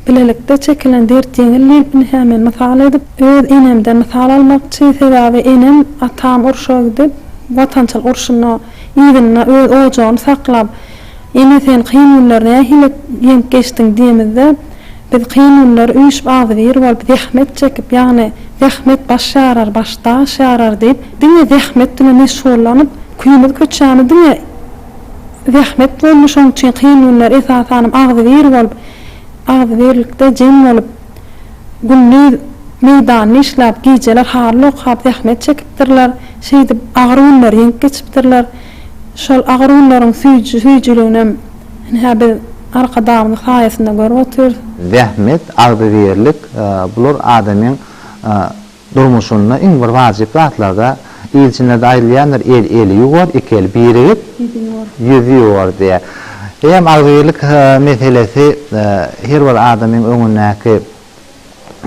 Bilelikde çekilen dert ýeňil diýipn hä men mysal edip öz enemden mysal almakçy sebäbi enem atam urşa gidip watançylyk urşunda yzynda öz ojagyny saklap Ene sen kyn günler nähili ýeňip geçdiň diýemizde biz kyn günler üýşüp agzybir bolup zähmet çekip ýagny zähmet baş ýarar baş daş ýarar diýip diňe zähmet bilen meşgullanyp küýümiz köçämiz diňe zähmet boldy şoň üçin kyn günler esasanam agzybir bolup agzybirlikde jem bolup Gündiz meýdanda işläp, gijeler haryl okap zähmet çekipdirler. Şeýdip, agyr günleri ýeňip geçipdirler. Şol agyr günleriň süýjüliginem ine-hä biz Arkadagymyzyň saýasynda görüp otyrys. Zähmet, agzybirlik, bular adamyň Durmuşynda iň bir wajyp zatlarda ilçilerde aýdylýandyr, el eli ýuwar, iki el birigip, ýüz ýuwar diýýär. Eýýäm agzybirlik meselesi her bir adamyň öňündäki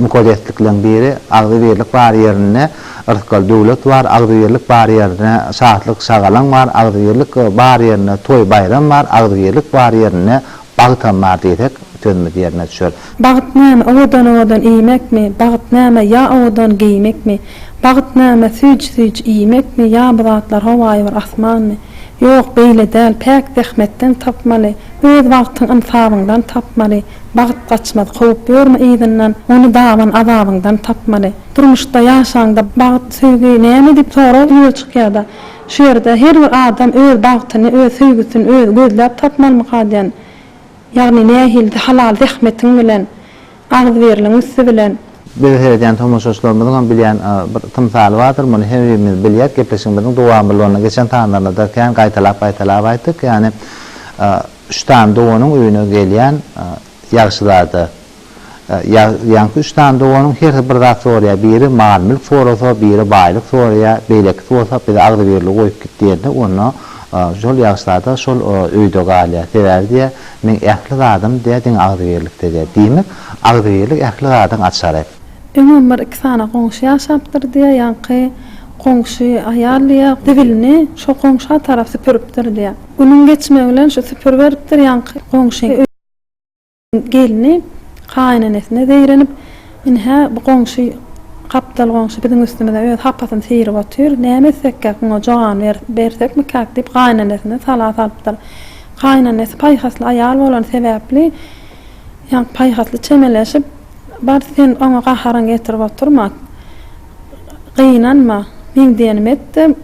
mukadeslikleň biri. Agzybirlik bar ýerinde rysgal döwlet bar, agzybirlik bar ýerinde şatlyk şagalaň bar, agzybirlik bar ýerinde toý baýram bar, agzybirlik bar ýerinde Bagtam bar diýsek, sözümiz ýerine düşer. Bagt näme, owadan-owadan iýmekmi? Bagt näme, ýa owadan geýmekmi? Bagt näme, süýji-süýji iýmekmi ýa bu zatlar howaýy bir asmanmy? Ýok, beýle däl, päk zähmetden tapmaly, öz bagtyň ynsabyňdan tapmaly. Bagt gaçmaz, kowup ýörme yzyndan, ony daban azabyňdan tapmaly. Durmuşda ýaşaňda bagt, söýgi näme diýip sorag ýüze çykýar-da. Şu ýerde her bir adam öz bagtyny, öz söýgüsini özi gözläp tapmalymyka diýen, ýagny nähilde halal zähmetiň bilen, agzybirligiň üsti bilen. Bizi seredýän tomaşaçylarymyzyň hem bilýän bir tymsaly bardyr, muny her birimiz bilýäs, gepleşigimiziň dowamlylygyna geçen sanlarynda-da kän gaýtalap-gaýtalap aýtdyk, ýagny üç sany doganyň öýüne gelýän ýagşyzada. Ýaňky üç sany doganyň hersi bir zat soraýar, biri mal-mülk sorasa, biri baýlyk soraýar, beýlekisi bolsa bizi agzybirli goýup git diýende, onda şol ýagyşlarda şol öýde galýar. Sebäbi diýýär, meň ähli zadym diýýär, diňe agzybirlikde diýýär. Diýmek, agzybirlik ähli zadyň açary. Öňem bir iki sany goňşy ýaşapdyr diýýär, ýaňky goňşy aýal diýýär, zibilini şo goňşa tarap süpüripdir diýýär. Günüň geçmegi bilen şu süpüriberipdir ýaňky goňşy. Gelni gaýynenesine zeýrenip, Ine-hä, bu goňşy, gapdal goňşy biziň üstümize öz hapasyny syryp otyr. Näme etsekkäk, muňa jogan bersekmikäk? diýip, gaýynenesine sala salypdyr. Gaýynenesi paýhasly aýal bolany sebäpli, ýa paýhasly çemeleşip, Bar, sen oňa gaharyňy getirip oturma. Gynanma, meň diýenim et-de,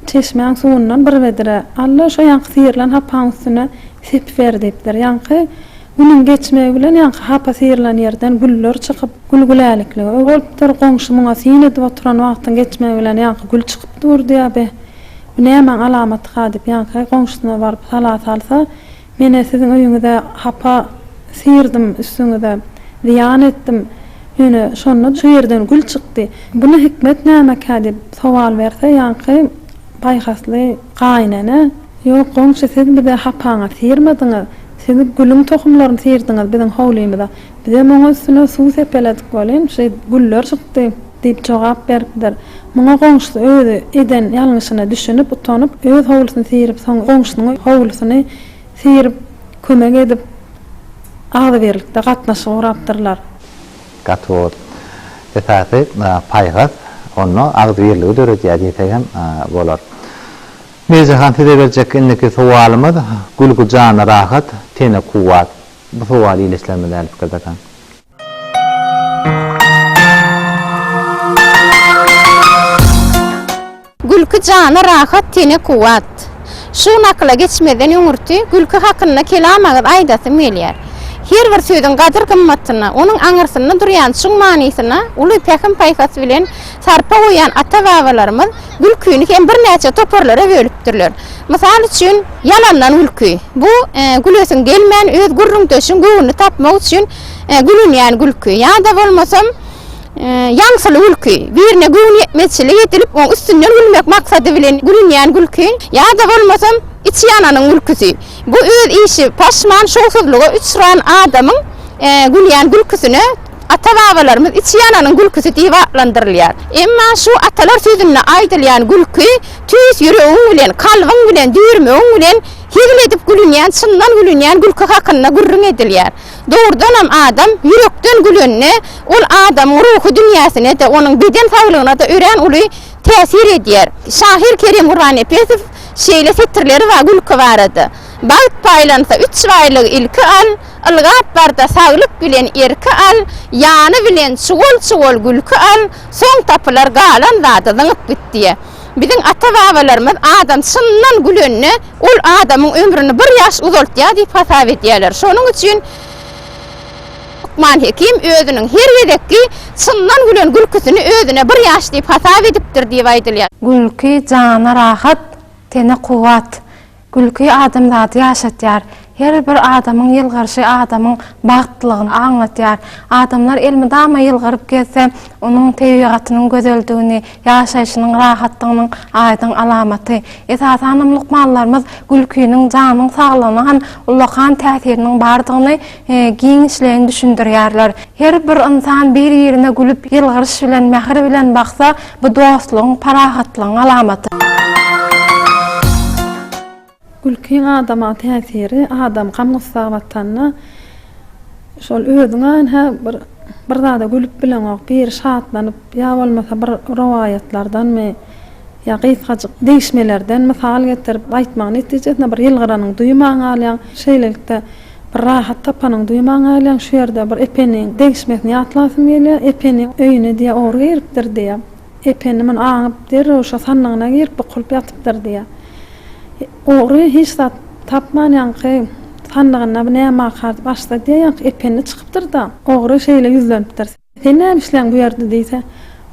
çeşmäň suwundan bir bedre al-da, şo ýaňky syrylan hapaň üstüne sepiber diýipdir. Ýaňky Günüň geçmegi bilen ýaňky hapa syrylan ýerden güller çykyp, gül-güläliklige öý bolupdyr. Goňşy muňa syn edip oturan wagtyň geçmegi bilen ýaňky gül çykyp durdy-ýa, Beh, bu nämäň alamaty-ha diýip, ýaňky goňşusyna baryp sala salsa, Men-ä siziň öýüňize hapa syrdym, üstüňize zyýan etdim. Ýöne şonda şu ýerden gül çykdy. Buna hikmet nämekä? diýip sowal berse, ýaňky paýhasly gaýynene, Ýok, goňşy, siz bize hapaňy syrmadyňyz. Siz gülüň tohumlaryny syrdyňyz biziň howlymyza. Bizem oňa üstüne suw sepeledik welin, şeý güller çykdy, diýip jogap beripdir. Muňa goňşusy özi eden ýalňyşyna düşünip, utanyp, öz howlusyny syrip, soň goňşusynyň howlusyny syryp, kömek edip, agzybirlikde gatnaşyk gurapdyrlar. Gaty bol. Esasy, paýhas onda agzybirligi döredýär diýsek hem bolar. Merjehan size berjek indiki sowalymyz, Gülki jana rahat, tene kuwwat. Bu sowaly ile islämde däli pikir dakaň. Gülki jana rahat tene kuwwat. Şu nakyla geçmezden öňürti gülki hakynda kelam agyz aýdasym gelýär. Her bir sözüň gadyr-gymmatyna, onuň aňyrsyna durýan çuň manysyna uly pähim-paýhas bilen sarpa goýan ata-babalarymyz gülkini hem birnäçe toparlara bölüpdirler. Mysal üçin, ýalandan gülki. Bu gülesiň gelmän, öz gürrüňdeşiň göwnüni tapmak üçin gülünýän gülki. Ýa-da bolmasam, ýaňsyly gülki. Birine göwnüýetmezçilik edilip, oň üstünden gülmek maksady bilen gülünýän gülki. Ýa-da bolmasam, içi ýananyň gülküsi. Bu öz işi paşman, şowsuzlyga uçran adamyň gülýän gülküsine Ata-babalarymyz içi ýananyň gülküsi diýip atlandyrylýar. Emma şu atalar sözünde aýdylýan gülki, tüýs ýüregiň bilen, kalbyň bilen, düýrmegiň bilen hezil edip gülünýän, çyndan gülünýän gülki hakynda gürrüň edilýär. Dogrudanam adam ýürekden gülende, ol adamyň ruhy dünýäsine-de, onuň beden saglygyna-da örän uly täsir edýär. Şahyr Kerim Gurbannepesow şeýle setirleri bar gülki barada, Bagt paýlansa üç baýlygy ilki al, Ylgap bar-da saglyk bilen erki al, ýany bilen çuwal-çuwal gülki al, soň tapylar galan zady zyňyp git diýýär. Biziň ata-babalarymyz adam çyndan gülende, ol adamyň ömrüni bir ýaş uzaltýar diýip hasap edýärler. Şonuň üçin Lukman Hekim özüniň her gezekki çyndan gülen gülküsini özüne bir ýaş diýip hasap edipdir diýip aýdylýar. Gülki jana rahat, tene kuwwat. Gülki adamzady ýaşatýar. Her bir adamyň ýylgyryşy adamyň bagtlylygyny aňladýar. Adamlar elmydama ýylgyryp gezse, onuň tebigatynyň gözeldigini, ýaşaýşynyň rahatdygynyň aýdyň alamaty. Esasanam lukmanlarymyz gülkiniň janyň saglygyna hem ullakan täsiriniň bardygyny, giňişleýin düşündirýärler. Her bir ynsan bir-birine gülüp, ýylgyryş bilen, mähir bilen baksa, bu dostlugyň, parahatlygyň alamaty. Gülkiň adama täsiri, adam gam-gussa batanda, şol özüňe ynha bir, bir zada gülüp bileňok, bir şatlanyp, ýa bolmasa bir rowaýatlardanmy, ýa gysgajyk degişmelerden mysal getirip aýtmagyň netijesinde bir ýylgyranyňy duýman galýaň. Şeýlelikde. Bir rahat tapanyň duýman galýaň şu ýerde bir Epeniň degişmesini ýatlasym gelýär Epeniň öýüne diýýär ogry giripdir diýýär Epeni muny aňyp derrew şo sandygyna girip bukulyp ýatypdyr diýýär ogry hiç zat tapman ýaňky sandygynda bu nämä kar diýip açsa diýýär ýaňky Epeni çykypdyr da ogry şeýle ýüzlenipdir. Sen näme isleýäň bu ýerde? diýse,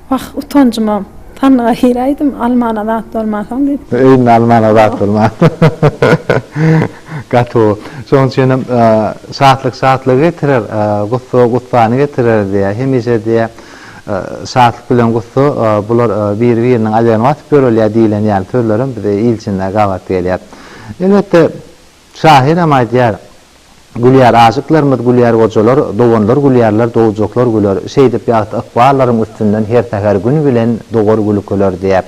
Wah, utanjyma sandyga giräýdim, almana zat bolmansoň diýip. Öýünde almana zat bolman. Gaty gowy. Şonuň üçin hem şatlyk şatlygy getirer, gussa gussany getirer diýýär. Hemişe diýýär, şatlyk bilen gussa bular biri-biriniň alýagyny basyp ýörelýär diýlen ýaly sözler hem bize il içinde gabat gelýär. Elbetde, Şahyram aýdýar, Gülýär aşyklarymyz, gülýär gojalar, doganlar gülýärler, dowjaklar güler. Şeýdip ýagty ykballaryň üstünden her säher gün bilen dogar gülkeler diýýär.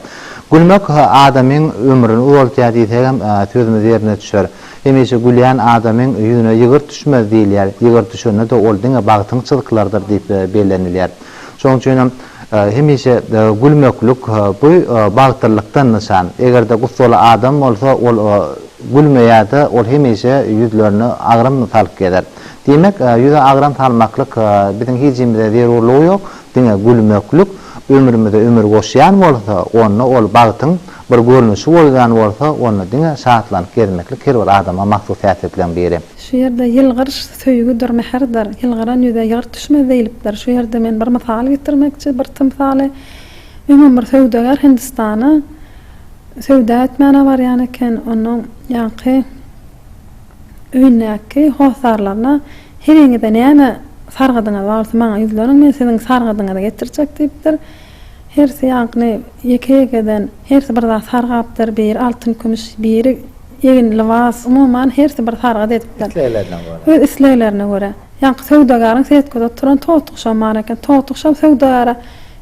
Gülmek adamyň ömrüni uzaltýar diýsegem sözümiz ýerine düşer. Hemişe gülýän adamyň ýüzüne ýygyrt düşmez diýilýär. Ýygyrt düşende-de ol diňe bagtyň çylkylarydyr diýip bellenilýär. Şonuň üçin hem hemişe gülmeklik bu bagtlylyk-dan nyşan. Eger-de gussaly adam bolsa, ol gülmeýär-de, ol hemişe ýüzlerine agram salyp gezer. Diýmek, ýüze agram salmaklyk biziň hijimize zerurlygy ýok, diňe gülmeklik ömrümize ömür goşýan bolsa, onda ol bagtyň bir görnüşi bolýan bolsa, onda diňe şatlanyp gezmeklik her bir adama mahsus häsiýetleň biri. Şu ýerde ýylgyryş söýgüdir, mähirdir. Ýylgyran ýüze ýygyrt düşmez diýlipdir. Şu ýerde men bir mysal getirmekçi, bir tymsaly. Öňem bir söwdagär Hindistana söwda etmäne barýan eken. Onuň ýaňky öýündäki hossarlaryna Heleňize näme sargydyňyz bar bolsa maňa ýüzleniň, men siziň sargydyňyzy getirjek diýipdir. Hersi ýaňkyny ýeke-ýekeden hersi bir zat sargapdyr, biri altyn-kümüş, biri Egin, lybas, umuman, hersi bir sargyt edipdir. Isleglerine görä. Öz isleglerine görä. Ýaňky söwdagaryň setgada oturan totguşam bar eken. Totguşam söwdagara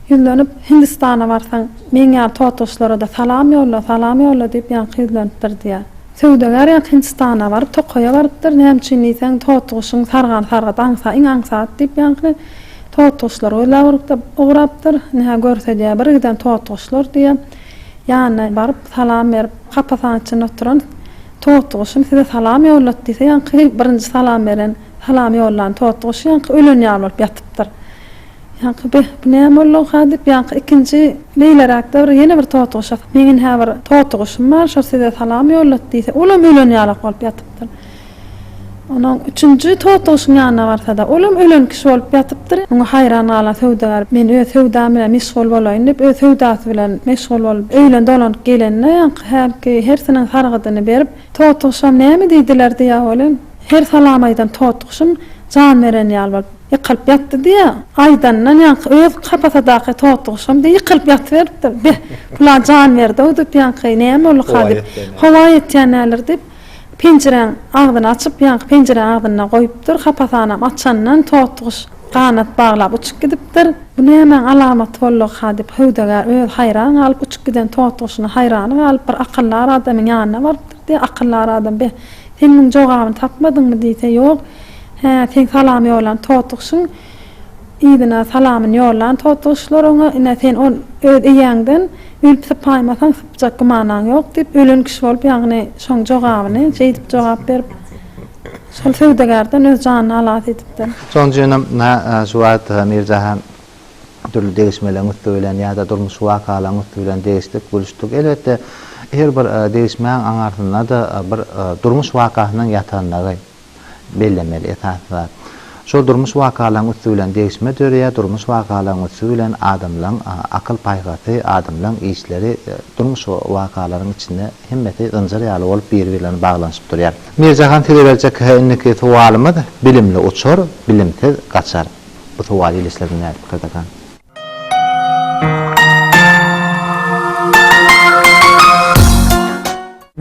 ýüzlenip, Hindistana barsaň, meň ýaly totguşlara-da salam ýolla, salam ýolla diýip, ýaňky ýüzlenipdir diýýär. Söwdagar ýaňky Hindistana baryp, tokaýa barypdyr. Näme üçin diýseň, totguşyň sargany sargyt, aňsa, iň aňsat diýip, ýaňky totguşlary gözläp urup-da, ugrapdyr. Ine, hä, görse diýýär, birgiden totguşlar diýýär. Ýanyna baryp, salam berip, hapa saň içinde oturan totyguşum size salam ýollat diýse, ýaňky birinji salam beren, salam ýollan totyguşy ýaňky ölen ýaly bolup ýatypdyr. Ýaňky beh, bu näme boldugyka diýip, ýaňky ikinji beýleräkde bir ýene bir totyguşa, meň inhä bir totyguşum bar, şo size salam ýollat diýse, olam ölen ýalak bolup ýatypdyr. Onuň üçünji togtagşyň ýanyna barsa-da, olam ölen kişi bolup ýatypdyr. Muňa haýran galan söwdagär, Men öz söwdam bilen meşgul bolaýyn diýip, öz söwdasy bilen meşgul bolup, öýüne dolanyp gelende, ýaňky hälki hersiniň sargydyny berip, Togtagşam näme diýdiler diýýär welin, her salam aýdan togtagşym jan beren ýaly bolup, ýykylyp ýatdy diýýär. Aýdandan ýaňky öz kapasadaky togtagşam deý ýykylyp ýatyberipdir. Beh, pula jan berdi-ow diýip, ýaňky näme bolduka diýip, howa ýetýän däldir diýip, Penjiräň agzyny açyp, ýaňky penjire agzynda goýupdyr. Hapasanam açandan totguş ganat baglap uçup gidipdir. Bu nämäň alamaty boldugyka diýip, söwdagär özi haýran galyp, uçup giden totguşyna haýrany galyp, bir akyldar adamyň ýanyna barypdyr diýýär. Akyldar adam, Beh, sen muň jogabyny tapmadyňmy? diýse, Ýok. Hä, seň salam ýollan totguşyň Yzyna salamyny ýollan totyguşlar oňa, Ine, sen ol öz eýäňden ölüp sypaýmasaň, sypjak gymanaň ýok diýip, ölen kişi bolup, ýagny şoň jogabyny şeýdip jogap berip, şol söwdagärden öz janyny halas edipdir. Şonuň üçinem şu wagt Mir Jahan dürli degişmeleriň üsti bilen ýa-da durmuşy wakalaryň üsti bilen degişdik, gülüşdik. Elbetde, her bir degişmäň aňarsynda-da bir durmuş wakasynyň ýatandygy, bellemeli esasy zat. Şol durmuş wakalaryň üsti bilen degişme döreýär, durmuş wakalaryň üsti bilen adamlaryň akyl-paýhasy, adamlaryň işleri, durmuş wakalaryň içinde hemmesi zynjyr ýaly bolup biri-birlerini baglanyşyp durýar. Mirjahan size berjek indiki sowalymyz, Bilimli uçar, bilimsiz gaçar. Bu sowal ilişdirdim nädip Kyrdakan?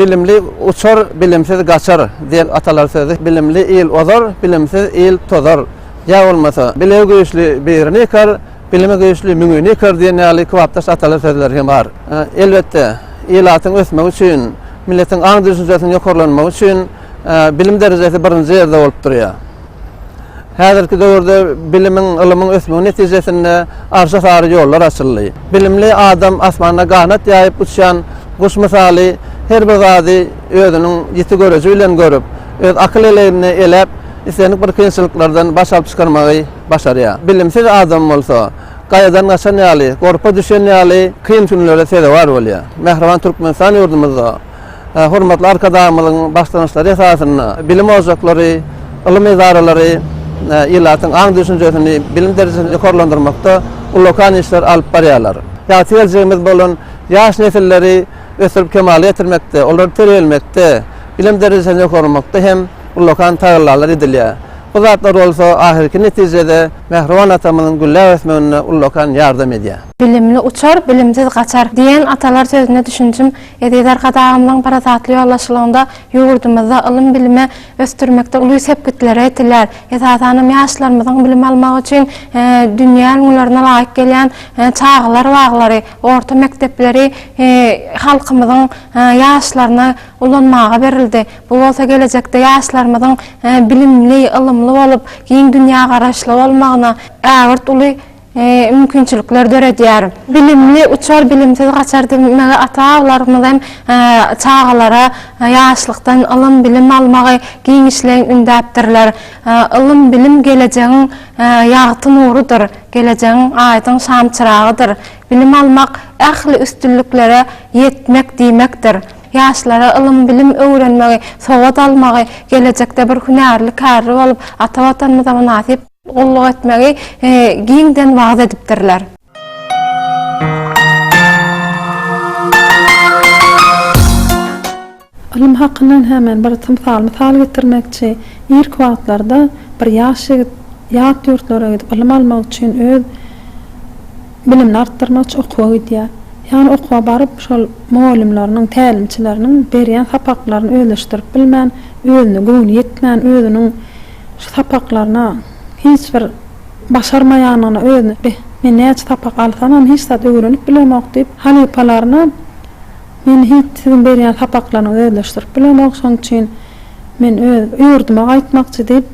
Bilimli uçar, bilimsiz gaçar diýen atalar sözi Bilimli il ozar, bilimsiz il tozar ýa bolmasa Bilegi güýçli birini ýykar, bilimi güýçli müňini ýykar diýen ýaly kybapdaş atalar sözleri hem bar. Elbetde, ilatyň ösmegi üçin, milletiň aň-düşünjesiniň ýokarlanmagy üçin bilim derejesi birinji ýerde bolup durýar. Häzirki döwürde bilimiň, ylymyň ösmegi netijesinde Arşa sary ýollar açyldy. Bilimli adam asmanda ganat ýaýyp uçýan guş mysaly her bir zady özüniň ýiti göreji bilen görüp, öz akyl eleýinde eläp, islendik bir kynçylyklardan baş alyp çykarmagy başarýar. Bilimsiz adam bolsa, gaýadan gaçan ýaly, gorpa düşen ýaly kyn günlere sezewar bolýar. Mähriban Türkmenistan ýurdumyzda, Hormatly Arkadagymyzyň başlangyçlary esasynda bilim ojaklary, ylym edaralary ilatyň aň-düşünjesini, bilim derejesini ýokarlandyrmakda ullakan işleri alyp barýarlar. Ýagty geljegimiz bolan ýaş nesilleri ösdürip kemala getirmekde, olary terbiýelemekde, bilim derejesini ýokarlamakda hem ullakan tagallalar edilýär. Bu zatlar bolsa ahyrky netijede mähriban atamyzyň gülläp ösmeginde ullakan ýardam edýär. Bilimli uçar, bilimsiz gaçar diýen atalar sözüne düşünjim Eziz Arkadagymyzyň parasatly ýolbaşçylygynda ýurdumyzda ylym-bilimi ösdürmekde uly sepgitler ýetilýär. Esasanam ýaşlarymyzyň bilim almagy üçin dünýä ülňülerine laýyk gelýän çagalar baglary, orta mekdepleri halkymyzyň ýaşlaryna ulanmaga berildi. Bu bolsa gelejekde ýaşlarymyzyň bilimli, ylymly bolup, giň dünýägaraýyşly bolmagyna ägirt uly mümkinçilikler döredýär. Bilimli uçar, bilimsiz gaçar diýmegi ata-babalarymyz hem çagalara ýaşlykdan ylym-bilim almagy giňişleýin ündäpdirler. Ylym-bilim gelejegiň ýagty nurudyr, gelejegiň aýdyň şamçyragydyr. Bilim almak, ähli üstünliklere ýetmek diýmekdir. Ýaşlara ylym-bilim öwrenmegi, sowat almagy, gelejekde bir hünärli, kärli bolup, ata Watanymyza mynasyp, Gulluk etmegi giňden wagyz edipdirler. Ylym hakyndan hem men bir tymsal mysal getirmekçi. Irki wagtlarda bir ýaş ýigit ýat ýurtlara gidip ylym almak üçin öz bilimini artdyrmak üçin okuwa gidýär. Ýagny okuwa baryp şol mugallymlarynyň, tälimçileriniň berýän sapaklaryny özleşdirip bilmän, özüne göwni ýetmän, özüniň Şu sapaklaryna hiç bir başarmaýanyna özüni beh, men näçe sapak alsamam hiç zat öwrenip bilemok diýip, halypalaryna men hiç siziň berýän sapaklaryňyzy özleşdirip bilemok, şonuň üçin men öz ýurduma gaýtmakçy diýip,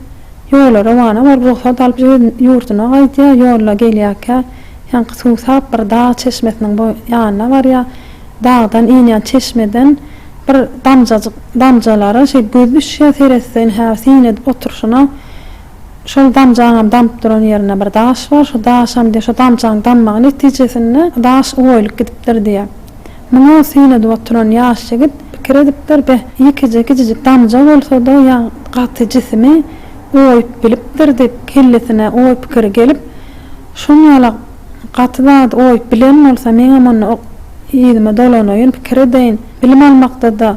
ýola rowana bolup rugsat alyp öz ýurduna gaýdýar, ýolda gelýärkä ýaňky suw tap bir dag çeşmesiniň boý ýanyna barýar, dagdan inýän çeşmeden, Bir damjajyk damjalara şeý göz düşýär, seretseň hä syn edip oturyşyna. Şol damjaňam damyp duran ýerinde bir daş bar, şu daşam diýýär, şo damjaň dammagy netijesinde daş oýulyp gidipdir diýýär. Muňa syn edip oturan ýaş ýigit pikir edipdir, beh, ýekeje kiçijik damja bolsa-da, ýa gaty jisimi oýup bilipdir diýip, kellesine oý pikiri gelip, şonýalak. Gaty zady goýup bilen bolsa meňem onda ok yzyma dolanaýyn pikir edeýin. Bilim almakda-da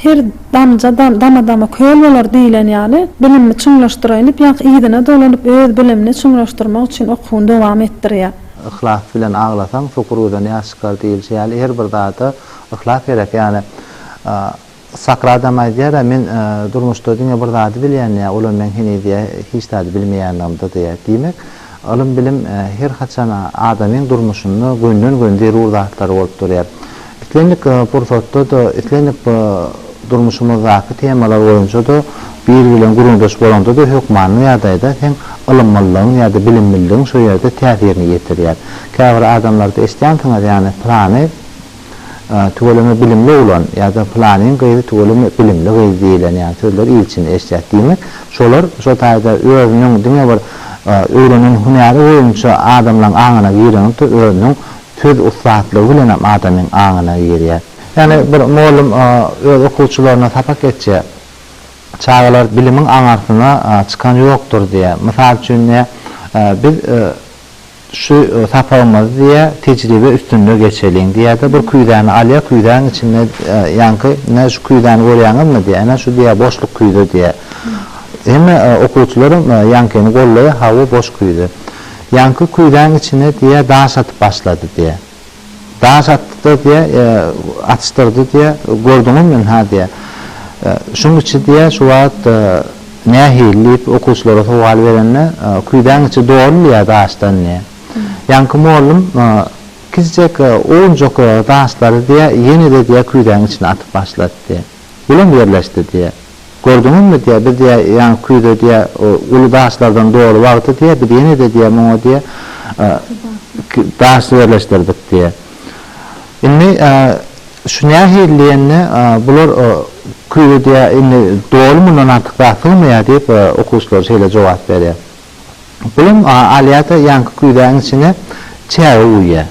her damja dama-dama köl bolar diýlen ýaly bilimimi çuňlaşdyraýyn diýip ýaňky yzyna dolanyp öz bilimini çuňlaşdyrmak üçin okuwyny dowam etdirýär. Yhlas bilen aglasaň sokur gözden ýaş çykar diýilşi ýaly her bir zada yhlas gerek ýani Sakyr adam aýdýar-a, Men durmuşda diňe bir zady bilýän, ýa olam meň heniz ýa hiç zady bilmeýänligimdir diýýär. Diýmek, ylym-bilim her haçan adamyň durmuşynda gönden-gön zerur zatlar bolup durýar. Islendik pursatda-da, islendik durmuşymyzdaky temalar boýunça-da biri bilen gürrüňdeş bolanda-da hökmany ýagdaýda seň ylymlylygyň ýa-da bilimliligiň şo ýerde täsirini ýetirýär. Käbir adamlarda eşidýänsiňiz, ýagny pylany, tüweleme bilimli oglan ýa-da pylanyň gyzy tüweleme bilimli gyz diýilen ýaly sözleri il içinde eşidýäs. Diýmek, şolar şo taýda özüniň diňe bir öwrenen hünäri boýunça adamlaň aňyna girenokda, özüniň söz ussatlygy bilenem adamyň aňyna girýär. Ýagny bir mugallym öz okuwçylaryna sapak geçýär. Çagalar bilimiň aňarsyna çykan ýokdur diýýär. Mysal üçin, biz Şu sapagymyzy diýýä, tejribe üstünde geçeliň diýýä-de, bir küýzäni alýa, küýzäň içinde ýaňky, ine, şu küýzäni görýäňizmi diýýä, ine, şu diýýä, boşluk küýze diýýä. Hemme okuwçylaram ýaňkyny goldaýa, hawa, boş küýze. Ýaňky küýzäň içine diýýä, daş atyp başlady diýýä. Daş atdy-da diýýä, atyşdyrdy diýýä, gördüňmi men, ha diýýä. Şuň içi diýýä, şu wagt nähili diýip okuwçylara sowal berende, küýzäň içi doly diýýä daşdan diýýä. Ýaňky mollum kiçijek owunjak daşlary diýýä, ýene-de diýýä küýzäň içine atyp başlady diýýä. Bulam ýerleşdi diýýä. Gördüňizmi diýýär, biz diýýär, ýaňy küýze diýýär, uly daşlardan doly wagty diýýär, biz ýene-de diýýär, muňa diýýär, daş ýerleşdirdik diýýär. Indi şu nähili diýende, bular küýze diýýär, indi doly mundan artyk zat sygmaýar diýip, okuwçylar şeýle jogap berýär. Pulum alýar-da, ýaňky küýzäniň içine çäge guýýar.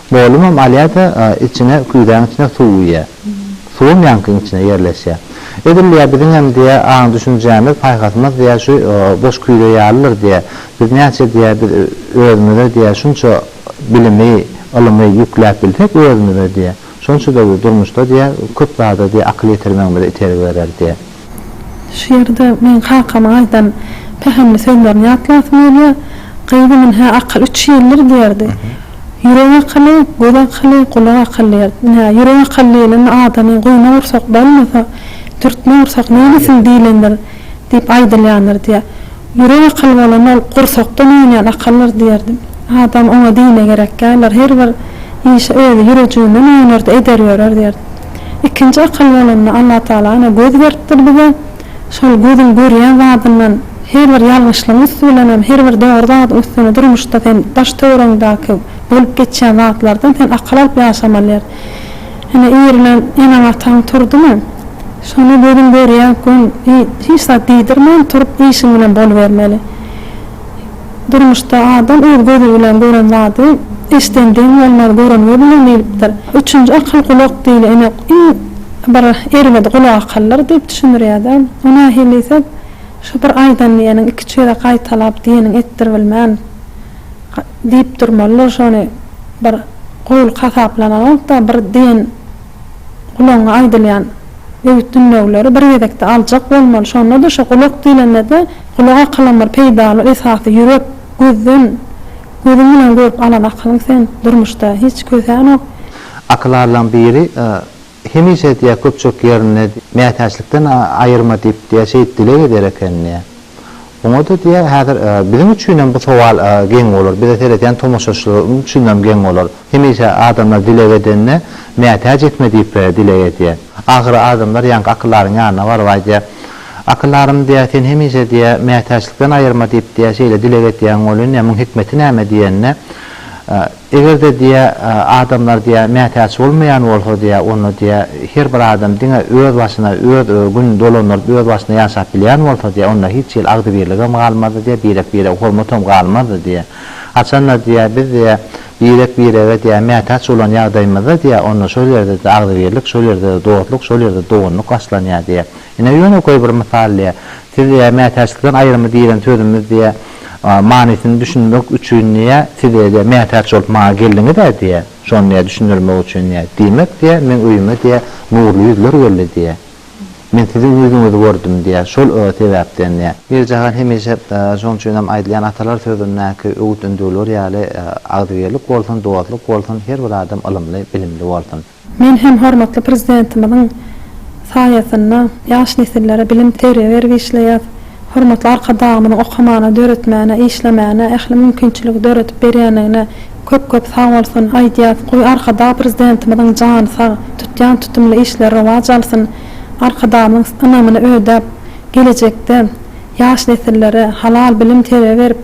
Molumam alýa-da, içine, küýzäň içine suw guýýa. Suwam ýaňkyň içine ýerleşýä. Edil diýýä, biziňem diýýä, aň-düşünjämiz, paýhasymyz diýýä, şu boş küýze ýalydyr diýýä. Biz näçe diýýä, biz özümize diýýä, şunça bilimi, ylymy ýükläp bilsek özümize diýýä, şonça-da biz durmuşda diýýä, köp zada diýýä, akyl ýetirmegimize itergi berer diýýä. Şu ýerde meň kakamyň aýdan pähimli sözlerini ýatlasym gelýär. Gyzym ine akyl üç ýyldyr diýerdi. Ýürek akyly, göz akyly, gulak akyly diýerdi. Ine, ýürek akyly diýlende adamyň guýma gursak bolmasa, dürtme gursak neýlesin diýlendir diýip aýdylýandyr diýýär. Ýürek akyly bolanda ol gursakdan oýnaýan akyldyr diýerdi. Adam oňa dine gerek däldir, her bir işi özi ýürejiginden oýnar-da eder ýörer diýerdi. Ikinji akyl bolanda Allatagala ana göz beripdir bize. Şol gözüň görýän zadyndan her bir ýalňyşlygyň üsti bilenem her bir dogry zadyň üstüne durmuşda sen daş töweregiňdäki bolup geçýän zatlardan sen akyl alyp ýaşamalyýr. Ine irilen eneň ataň turdymy? Şony gözüň görýän gün hiç zat diýdirmän turup işiň bilen bolubermeli. Durmuşda adam öz gözi bilen gören zady, eşden diň bolmaz, gören göz bilen diýlipdir. Üçünji akyl gulak diýle, ine, iň bir erbedi gulak akyldyr diýip düşündirýär-de. O nähili diýsek, şu bir aýdan diýeniň iki-üç gezek gaýtalap, diýeniň etdir bilmän, diýip durmalydyr. Şony bir goýulk hasaplamalydym-da, bir diýen. Gulagyňa aýdylýan öwüt-ündewileri bir gezekde aljak bolmaly, şonda-da şo gulak diýlende-de gulak akylam bir peýdaly esasy ýürek, gözden, gözüň bilen görüp alan akylyň sen durmuşda hiç kösänok. Akylarlaň biri hemişe diýýär köpçülik ýerinde mätäçlikden aýyrma diýip diýýär şeýdip dileg eder ekenini. Oňa-da diýýär, häzir biziň üçinem bu sowal geň bolar, bize seredýän tomaşaçylar üçinem geň bolar. Hemişe adamlar dileg edende, Mätäç etme diýip dileg edýär. Ahyry adamlar ýaňky akyldaryň ýanyna baryp aýdýar, Akyldarym diýýär, sen hemişe diýýär, Mätäçlikden aýyrma diýip diýýär, şeýle dileg edýäň welin, diýýär, muň hikmeti näme diýende, Eger-de diýä, adamlar diýä, mätäç bolmaýan bolsa diýä, onda diýä, her bir adam diňe öz başyna, öz gün dolandyryp, öz başyna ýaşap bilýän bolsa diýä, onda hiç hili agzybirligem galmazdy diýä, birek-birege hormatam galmazdy diýä. Haçanda diýä, biz diýä, birek-birege diýä, mätäç bolan ýagdaýymyzda diýä, onda şol ýerde-de agzybirlik, şol ýerde-de dostluk, şol ýerde-de doganlyk başlanýar diýä. Ine, ýöne goý bir mysal diýä. Siz diýä, mätäçlikden aýrymy diýlen sözümiz diýä, manysyny düşünmek üçin diýä, siz diýä, mätäç bolup maňa geldiňiz-ä diýä, şony diýä, düşündirmek üçin diýä. Diýmek diýä, meň öýüme diýä, nurly ýüzler geldi diýä. Men siziň ýüzüňizi gördüm diýä, şol sebäpden diýä. Birjahan hemişe şonuň üçin hem aýdylýan atalar sözündäki öwüt-ündewler ýaly, Agzybirlik bolsun, dostluk bolsun, her bir adam ylymly, bilimli bolsun! Men hem hormatly Prezidentimiziň saýasynda ýaş nesillere bilim, terbiýe berip işleýäs. Hormatly Arkadagymyzyň okamana, döretmäne, işlemäne ähli mümkinçiligi döredip berýändigine köp-köp sag bolsun aýdýas. Goý, Arkadag Prezidentimiziň jany sag, tutýan tutumly işleri rowaç alsyn. Arkadagymyzyň ynamyny ödäp, gelejekde ýaş nesillere halal bilim, terbiýe berip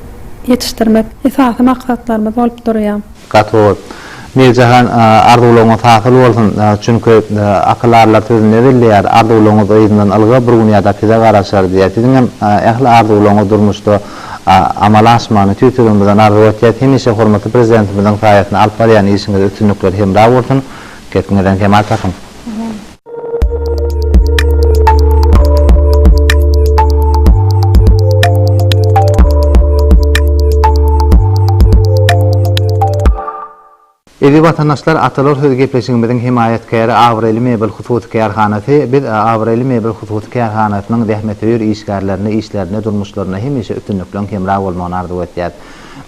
ýetişdirmek esasy maksatlarymyz bolup durýar. Gaty gowy. Mirjahan arzuwlaryňyz hasyl bolsun. Çünki akylarlar sözünde belleýär, arzuwlaryňyz yzyndan ylga bir gün ýadap size garaşar diýýär. Siziň hem ähli arzuwlaryňyz durmuşda amala aşmagyny tüýs ýüregimizden arzuw etýäs. Hemişe hormatly prezidentimiziň saýasynda alyp barýan işiňizde üstünlikler hemra bolsun. Gepňizden kemal tapyň. Eziz watandaşlar, Atalar sözi gepleşigimiziň hemaýatkäri Abraýly mebel hususy kärhanasy. Biz Abraýly mebel hususy kärhanasynyň zähmetsöýer işgärlerine işlerinde, durmuşlarynda hemişe üstünlikleň hemra bolmagyny arzuw etýäs.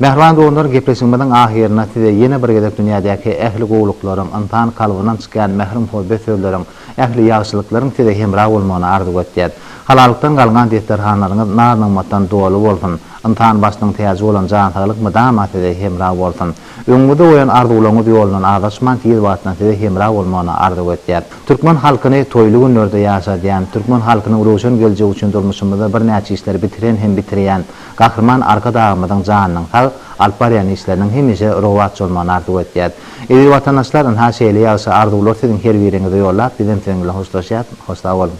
Mähriban doganlar gepleşigimiziň ahyrynda size ýene bir gezek dünýädäki ähli gowulyklaryň, ynsan kalbyndan çykýan mähir muhabbet sözleriň, ähli ýagşylyklaryň size hemra bolmagyny arzuw etýäs. Halalykdan galňan desterhanlaryňyz naz nygmatdan doly bolsun. Ynsan başynyň täji bolan jan saglyk mydama size hemra bolsun. Öňüňizde goýan arzuwlaryňyz ýolundan azaşman tiz wagtdan size hemra bolmagyny arzuw etýäs. Türkmen halkyny toýly günlerde ýaşadýan, türkmen halkynyň röwşen geljegi üçin durmuşymyzda birnäçe işleri bitiren hem bitirýän, Gahryman Arkadagymyzyň janynyň sag, alyp barýan işleriniň hemişe rowaç bolmagyny arzuw etýäs. Eziz watandaşlar, ynha şeýle ýagşy arzuwlar siziň her biriňize ýollap, bizem siziň bilen hoşlaşýas. Hoş sag boluň!